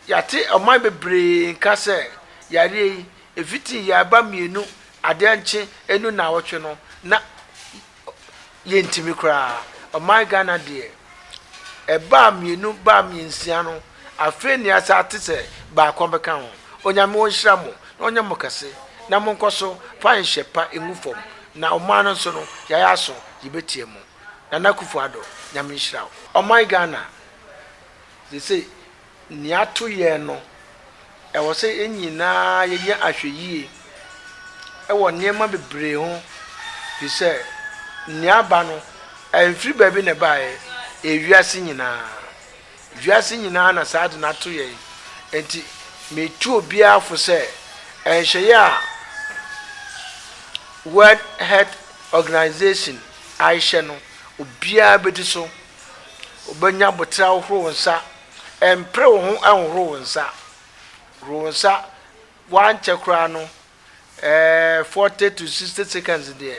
Yɛate ɔman bebree nka sɛ yareɛ yi Efitsi yarba mienu adɛnkye enu naawɔtwe no na yenntimi koraa. Ɔman Ghana deɛ, ɛbaa mienu baa miensia no, afei nea sa ate sɛ baako bɛka ho. Onyame onhyira mo na ɔnyɛ mo kɛse na monkɔ so fa nhyɛ pa ngu fam na ɔman no nso no yɛayɛ aso yebetie mo. Nana Akufo Addo, Nyame nhyira wo. Ɔman Ghana, seesei Nea to yɛn no, ɛwɔ sɛ yɛn nyinaa yɛyɛ ahwɛyie wɔ nneɛma bebree ho, ɛfiri sɛ nea aba no, ɛmfiri baabi na ɛbaeɛ, ɛyɛ wiase nyinaa. Wiase nyinaa na saa ade no ato yɛn. Enti metu obiara fo sɛ, nhyehyɛeɛ a World Health Organization ahyɛ no, obiara bɛdi so. Wobɛnya aboterɛ ahohoro wo nsa. Mpere wo ho nhohoro wo nsa. Horo wo nsa. Woankyɛ koraa no, ɛɛ, 40 to 60 seconds deɛ,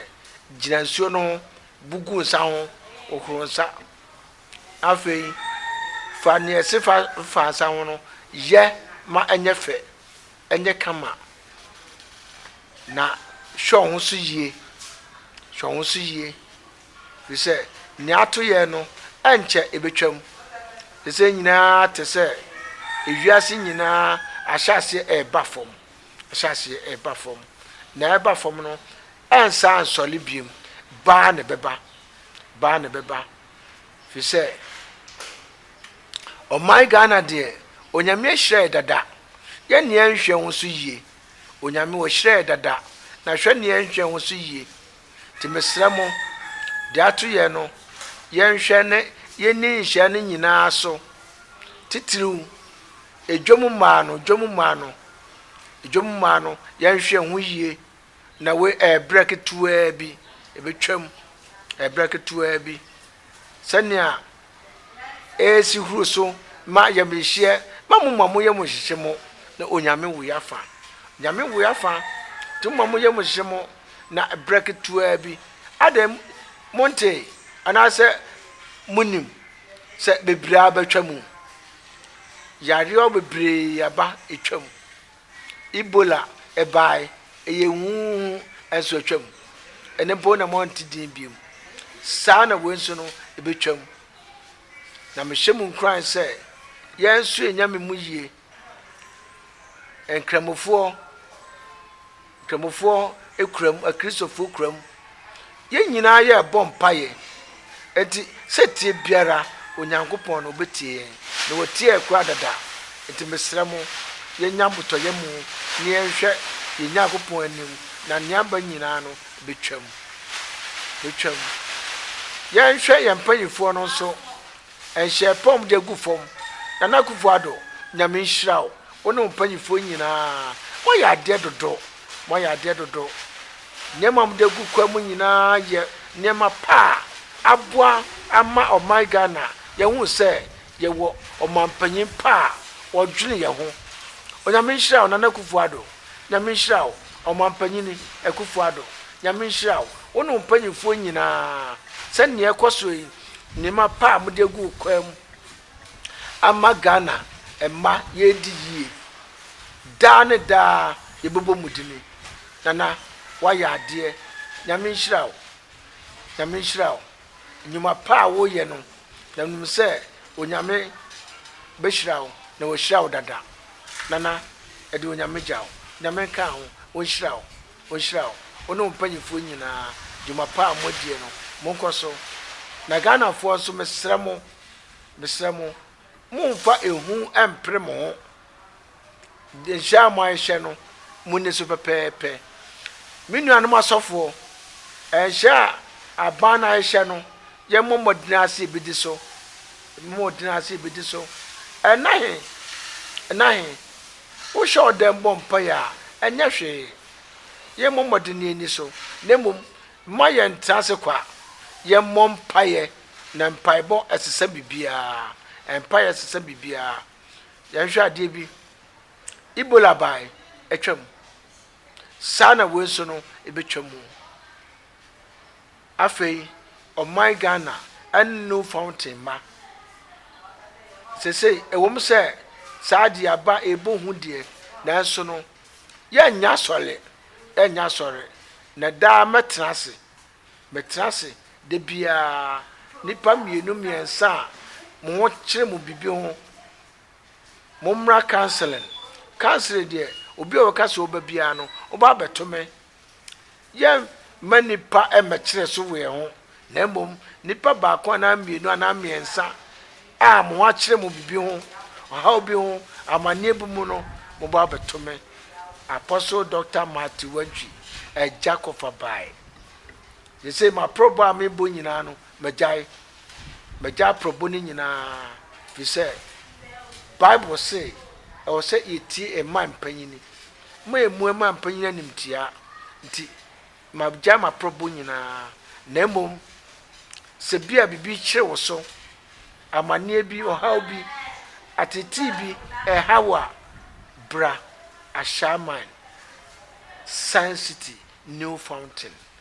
gyina nsuo no ho, bu gu nsa ho, hohoro nsa. Afei, fa nea ɛse fa fa nsa ho no yɛ ma ɛnyɛ fɛ, ɛnyɛ kama. Na hwɛ wo ho so yie. Hwɛ wo ho so yie. Efisɛ nea ato yɛn no, ɛnkyɛ ebetwam. Nsɛm nyinaa te sɛ wiase nyinaa ahyɛaseɛ reba fam, ahyɛaseɛ reba fam. Nea ɛba fam no, ɛrensan nsɔre bio. Baa na ɛbɛba, baa na ɛbɛba. Efisɛ ɔman Ghana deɛ, Onyame ahyira yɛ dada. Yɛn nea nhwɛ ho so yie. Onyame ɔhyira yɛ dada. Na hwɛ nea nhwɛ ho so yie. Nti mesrɛ mo, deɛ ato yɛn no, yɛnhwɛ na yɛnni nhyeɛ no nyina ara so, titiriw dwam mmaa no, dwam mmaa no, dwam mmaa no, yɛnhwɛ ho yie, na wei ɛyɛ berɛ ketewaa bi, ɛbɛtwam, ɛyɛ berɛ ketewaa bi, sɛnea esi huru so ma ayamhyehyeɛ ma mo ma mo yam nhyehye mo na Onyame woi afa Onyame woi afa nti mo ma mo yam nhyehye mo na berɛ ketewa bi adɛn monte anaasɛ monim sɛ bebree abɛtwa mu yareɛ bebree aba ɛtwa mu Ebola bae, ɛyɛ hu hu hu, ɛnso atwam. Ɛno mpo na moante din bio. Saa na wei nso no ɛbɛtwam. Na mehyɛ mo nkuran sɛ, yɛn nso yɛnya me mu yie. Nkramofoɔ, Kramofoɔ kura mu, akristofoɔ kura mu. Yɛn nyinaa yɛ bɔ mpaeɛ. Nti sɛtie biara Onyankopɔn no ɔbɛtie yɛn. Na wɔtiee koraa dada. Nti mesrɛ mo, yɛnya abotɔyɛ mu na yɛnhwɛ yɛn Nyankopɔn anim na nea aba nyinaa no bɛtwam. Bɛtwam. Yɛnhwɛ yɛn mpaninfoɔ no nso, Ɛnhyɛɛ pɔw mu de gu fam. Nana Akuffo Addo, Nyame nhyira wo, wo ne wo mpanyimfoɔ nyinaa. Moayɛ adeɛ dodo. Moayɛ adeɛ dodo. Nneɛma a mode agu kwan mu nyinaa yɛ nneɛma pa a aboa ama ɔman Ghana. Yɛahu sɛ yɛwɔ ɔmampanyin pa a ɔdwene yɛn ho. Onyame nhyira wo, Nana Akuffo Addo. Nyame nhyira wo, Ɔmampanyini Akuffo Addo. Nyame nhyira wo, wo ne wo mpanyimfoɔ nyinaa. Sɛnea ɛrekɔ so yi, Nneɛma pa a mode agu kwan mu ama Ghana mma yɛredi yie. Daa ne daa yɛbɛbɔ mu dini. Nana woayɛ adeɛ. Nyame nhyira wo. Nyame nhyira wo. Nnwuma pa a woreyɛ no, na menim sɛ Onyame bɛhyira wo na wahyira wo dada. Nana, ɛde Onyame gya wo. Nyame nka ho. Ɔnhyira wo. Wɔnhyira wo, wo ne wo mpanyimfoɔ nyinaa, dwuma pa a moadie no, monkɔ so. Na Ghanafoɔ nso mesrɛ mo, mesrɛ mo, mommfa ehu mmpere mo ho. Nhyehyɛɛ a moahehyɛ no, monni so pɛpɛɛpɛ. Me nuanom asɔfoɔ, nhyehyɛɛ a aban no ahehyɛ no, Yɛmmɔ mmɔden ara sɛ yebedi so. Yɛmmɔ mmɔden ara sɛ yebedi so. Ɛnna he? Ɛnna he? Wohyɛ wo dɛn bɔ mpae a, ɛnyɛ hwee. Yɛmmɔ mmɔden na yenni so, na mmom mma yɛntra ase kwa. Yɛmmɔ mpaeɛ, na mpaebɔ sesa biribiara. Mpaeɛ sesa biribiara. Yɛnhwɛ adeɛ bi. Ebola bae, atwam. Saa na wei nso no, ebetwa mu. Afei ɔman Ghana nnu fountain mma. Seesei ɛwɔ mu sɛ saa deɛ aba ɛbɔ hu deɛ nanso no yɛnnyɛ asɔre yɛnnyɛ asɔre na daa mɛtena ase mɛtena ase da biara nnipa mmienu mmiɛnsa a mo ho kyerɛ mo biribi ho mommra counseling counseling deɛ obi a ɔka sɛ ɔba biara no ɔba abɛto me Yɛremma nnipa mmɛkyerɛ so wɔ yɛn ho, na mmom nnipa baako anaa mmienu anaa mmiɛnsa a mo ho akyerɛ mo biribi ho, ɔhaw bi ho, amanneɛ bi mu no, mobɔ abɛto me. Apostle Doctor Matthew Wantwi, Agya Kɔfa Bae. Seesei m'aporɔbɔ a mebɔ nyinaa no, magyae. Magyae aporɔbɔ no nyinaa, ɛfiri sɛ Bible se ɛwɔ sɛ yɛtie mma mpanyini. Moayɛ mua ma mpanyin animtiaa nti, magyae m'aprɔbo nyinaa. Na mmom sɛ ebia biribi kyere wo so, amanneɛ bi, ɔhaw bi, ateetee bi reha wo a, bra Ashaiman, Science City, New Fountain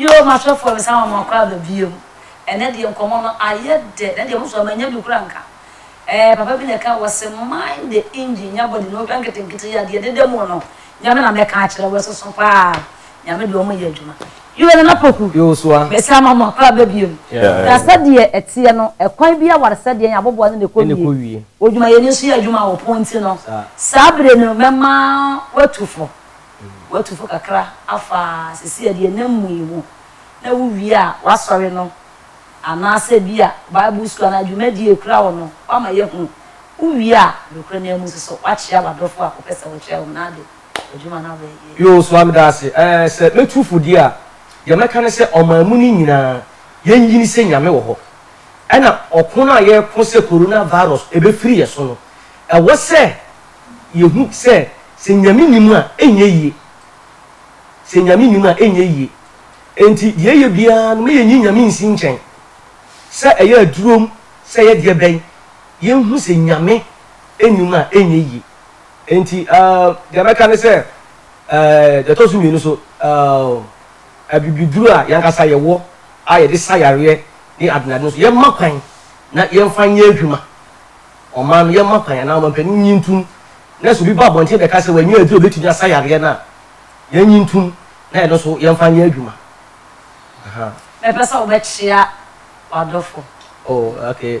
Yoo m'asɔfoɔ me san ma mo akɔ aba biom ɛnɛ deɛ nkɔmɔ no ayɛ dɛ na deɛ mo so manya bi kora nka ɛɛ papa bi na ɛka wɔse mind the engine nya body na wohwɛ nketenkete yi a deɛ ɛdeda mu no nyame na mɛka akyerɛ wo ɛsoso paa Nyame de wɔn yɛ adwuma. Yoe Nana Poku, mese ama mo akɔ aba biom. Na sɛdeɛ ɛteɛ no, ɛkwan bi awaresɛ deɛn aboboa no na ɛkɔ wie. Odwumayɛni nso yɛ adwuma wɔ pon nti no, saa bere no mɛma watu fo. Watu fo kakra afa seesei deɛ na mmu yi ho. Na wowie a, w'asɔre no anaasɛ bi a Bible sukuu anaa dwumadie a ɛkura wo no, woama yɛahunu. Wowie a, nokorɛ no amu nso so, woakyea w'adɔfoɔ a wopɛ sɛ wokyerɛ wɔn ade. Yoo Sua medase eh sɛ mɛtu fo deɛ a deɛ mɛka ne sɛ ɔman mu no nyinaa yɛnyini sɛ Nyame wɔ hɔ ɛna ɔko no a yɛko sɛ Corona virus ɛbɛfiri yɛ so no ɛwɔ sɛ yɛhu sɛ sɛ Nyame nni mu a ɛnyɛ yie sɛ Nyame nni mu a ɛnyɛ yie ɛnti deɛ ɛyɛ biara no ma yɛnyi Nyame nsi nkyɛn sɛ ɛyɛ adurom sɛ ɛyɛ deɛ bɛn yɛnhu sɛ Nyame nni mu a ɛnyɛ yie Enti deɛ mɛka ne sɛ, deɛ ɛtɔ so mmienu nso, abibiduro a yɛn ankasa yɛwɔ a yɛde sa yareɛ ne adenadeɛ no nso, yɛmma kwan na yɛmfa nyɛ adwuma. Ɔman no, yɛmma kwan anaa ɔmanpanin nnye ntom na sɛ obi ba abɔnten bɛka sɛ wannya aduro a ɛbɛtumi asa yareɛ no a, yɛnnye ntom na yɛno nso yɛmfa nyɛ adwuma. Mɛpɛ sɛ wobɛkyea w'adɔfo. Oh, okay.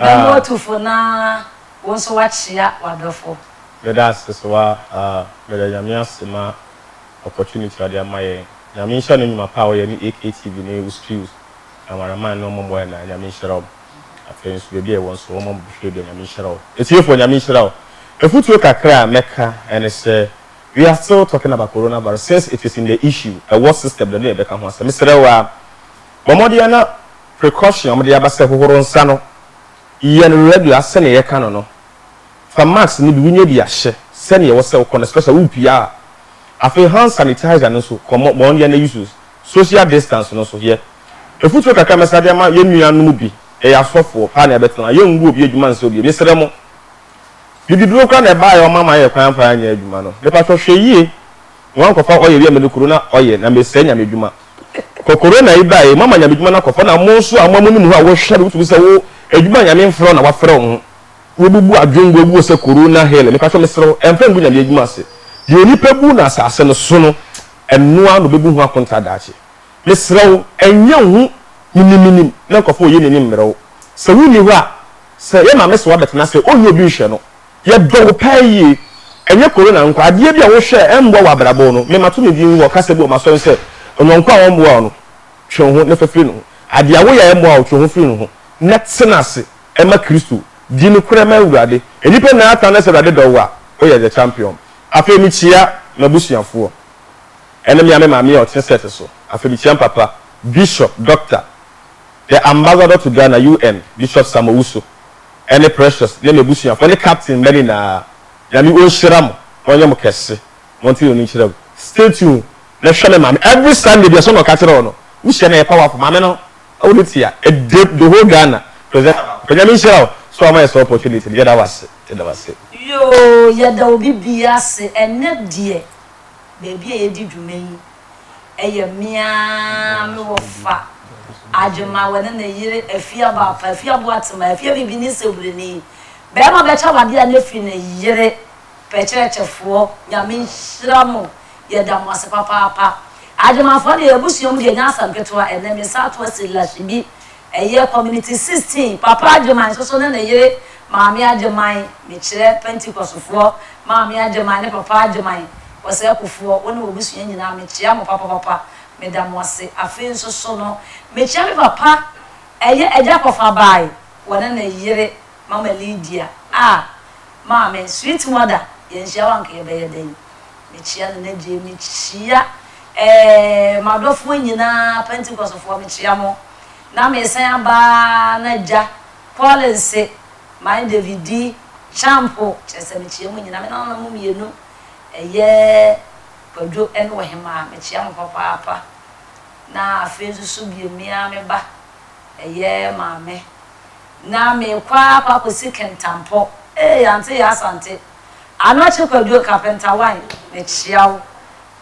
Yɛn bo atu fo na wo nso woakyea w'adɔfo. Meda ase sɛ wa ah meda Nyame ase ma opportunity ɔde ama yɛn Nyame nhyira ne nwuma pa a ɔyɛ ne AKTV ne wo studios camera man ne ɔmɔ mɔɛ na Nyame nhyira ɔmo afei nso baabi a ɛwɔ nso ɔmɔ ɔmo bɛhwɛ bi a Nyame nhyira ɔmo atiefo Nyame nhyira ɔmo Afutuo kakra a mɛka ɛne sɛ we are still talking about corona virus since it is in the issue ɛwɔ system da ne yɛbɛka ho asɛm mesrɛ wo a bɔ mmɔden a na Precaution a wɔde aba sɛ hohoro nsa no yɛ no regular sɛnea yɛka no no. Fa mask no bi, wunya bi a hyɛ sɛnea ɛwɔ sɛ wokɔ no especially worepue a. Afei hand sanitizer no nso kɔ mɔ wɔn yɛ na use social distance no nso yɛ. Mfuturo kakra a mɛsa de ama yɛn nua no mu bi, yɛyɛ asɔfoɔ paa na yɛbɛtena, yɛngu obi adwuma nsɛ obi, mesrɛ mo. Bibiduro koraa na ɛbaeɛ a wɔma ma yɛn kwan amfa anyɛ adwuma no, mepatwɔ hwɛ yie. Hom nkɔfa ɔyɛ wia mede kuro na ɔyɛ na mesɛɛ Nyame dwuma. Kɔ Corona yi bae moama Nyame dwuma no akɔfa na mo nso a mo a monim ho a wohwɛ no wotumi sɛ wo adwuma a Nyame mfrɛ wo na wafrɛ wo ho wobubu adwen gu agu hɔ sɛ Corona hell mepatwɔ mesrɛ wo mfa ngu Nyame adwuma ase deɛ onipa bu no asase no so no ɛno ara na ɔbɛbu ho akonta daakye mesrɛ wo nyɛ wo ho menim menim na nkɔfa ɔyɛ n'ani mmerɛ wo sɛ wonni hɔ a sɛ yɛ maame se wabɛtena sɛ ɔnni obi nhwɛ no Yɛdɔ wo paa yie. Ɛnyɛ Corona nko, adeɛ bi a wohwɛ a ɛmmoa wo abrabɔ no, me mato me din wɔ kasa bi wɔ m'asɔre sɛ, Ɔyɔnko a ɔmmoa wo no, twe wo ho na fa firi ne ho. Adeɛ a woyɛ a ɛmmoa wo, twe wo ho firi ne ho na tena ase ma Kristo. Di nokorɛ ma Awurade. Nnipa nyinaa aka no sɛ Awurade dɔ wo a, woyɛ the champion. Afei mekyia m'abusuafoɔ. Ɛne me ara me maame a ɔte set so. Afei mekyia me papa, Bishop, Doctor, the Ambassador to Ghana, UN, Bishop Sam Owusu. ɛne Precious ne m'abusuafoɔ ne Captain mma nyinaa Nyame onhyira mo na ɔnyɛ mo kɛse Monte no nkyerɛ mu Stay tune na hwɛ me maame every Sunday bia sɛ na ɔka kyerɛ wo no Wohyia no ɛyɛ powerful Maame no wo ne tia ɛdɛ the whole Ghana Presenter baako pɛ Nyame nhyira wo sɛ wama yɛ saa opportunity no Yɛda wo ase Yɛda wo ase. Yoo yɛda obi biaa ase ɛnɛ deɛ baabi a yɛdi dwuma yi. ɛyɛ me ara me wɔfa Adwemma wɔne ne yere Afiabo Afa Afiabo Atema Afiafi bi ne Sebreni bɛrima bɛkyɛ wade a ne fi ne yere pɛ kyerɛkyɛfoɔ Nyame nhyira mo yɛda mo ase papaapa Adwemmafoɔ deɛ yɛn abusua mu deɛ ɛnyɛ asɛm ketewa ɛnɛ me nsa ato Asilahyibi Ɛyɛ Community Sixteen, Papa Agyeman nsoso ne ne yere Maame Agyeman, mekyerɛ Pentecostefoɔ Maame Agyeman ne Papa Agyeman, Ɔsɛɛkofoɔ, wo ne w'abusua nyinaa mekyea mo papapapa, meda mo ase. Afei nsoso no, mekyea me papa, ɛyɛ Agya Kɔfabaae, wɔne ne yere Mama Lydia, ah, Maame, sweet mother, yɛanhyia wo a anka yɛbɛyɛ dɛn. Mekyea no na gye mekyia ɛɛ madɔfoɔ nyinaa pentikɔsfoɔ mekyea mo na mesan aba na gya kɔlense my davidi kyampo kyerɛ sɛ mekyea mo nyinaa me nananom mmienu ɛyɛ kwadwo ɛne ɔhemaa mekyea mo papaapa na afei nso so bio me ara me ba ɛyɛ maame na mekɔ akɔ akɔsi kentampɔ ee ante yɛ asante. Anakye Kwadwo Kapentawae, Mekyea wo,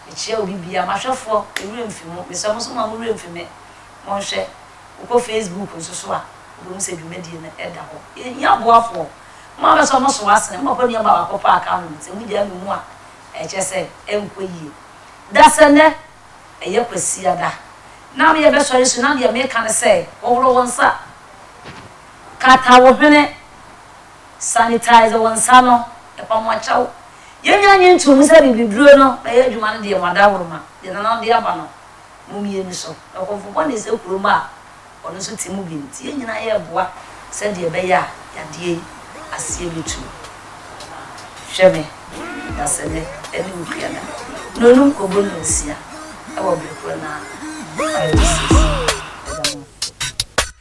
mekyea obi biara, m'ahwɛfoɔ, me werɛ mfi mo, mesrɛ mo nso mma mo werɛ mfi me, monhwɛ, wokɔ Facebook nso so a, wobɛhu sɛ dwumadie no da hɔ. Yɛhia aboafoɔ, mo ara bɛsɔ mo so asene, mo mpo nneɛma baako paa ka ho, sɛ mogyae nom mu a, ɛkyerɛ sɛ ɛnkɔ yie. Dasɛ nnɛ ɛyɛ Kwasiada, na me yɛbɛsɔre so, na deɛ meka ne sɛ, hohoro wo nsa, kata wo hwene, Sanitize wo nsa no, ɛpa mo akyɛw. Yɛn nyinaa gye nto mu sɛ bibiduro no bɛyɛ adwuma no deɛ mo adawuruma, deɛ Nana de aba no, mo mmie no so. Na ɔkɔmfo bɔne sɛ kurom a, ɔno nso te mu bi nti, yɛn nyinaa yɛreboa sɛdeɛ ɛbɛyɛ a yadeɛ yi aseɛ bɛtu. Hwɛ me, na sɛ me ne wo pia na nnonom kɔbɔ nnɔnsia wɔ bere korɔ no a, Bible says, mɛda mo ase.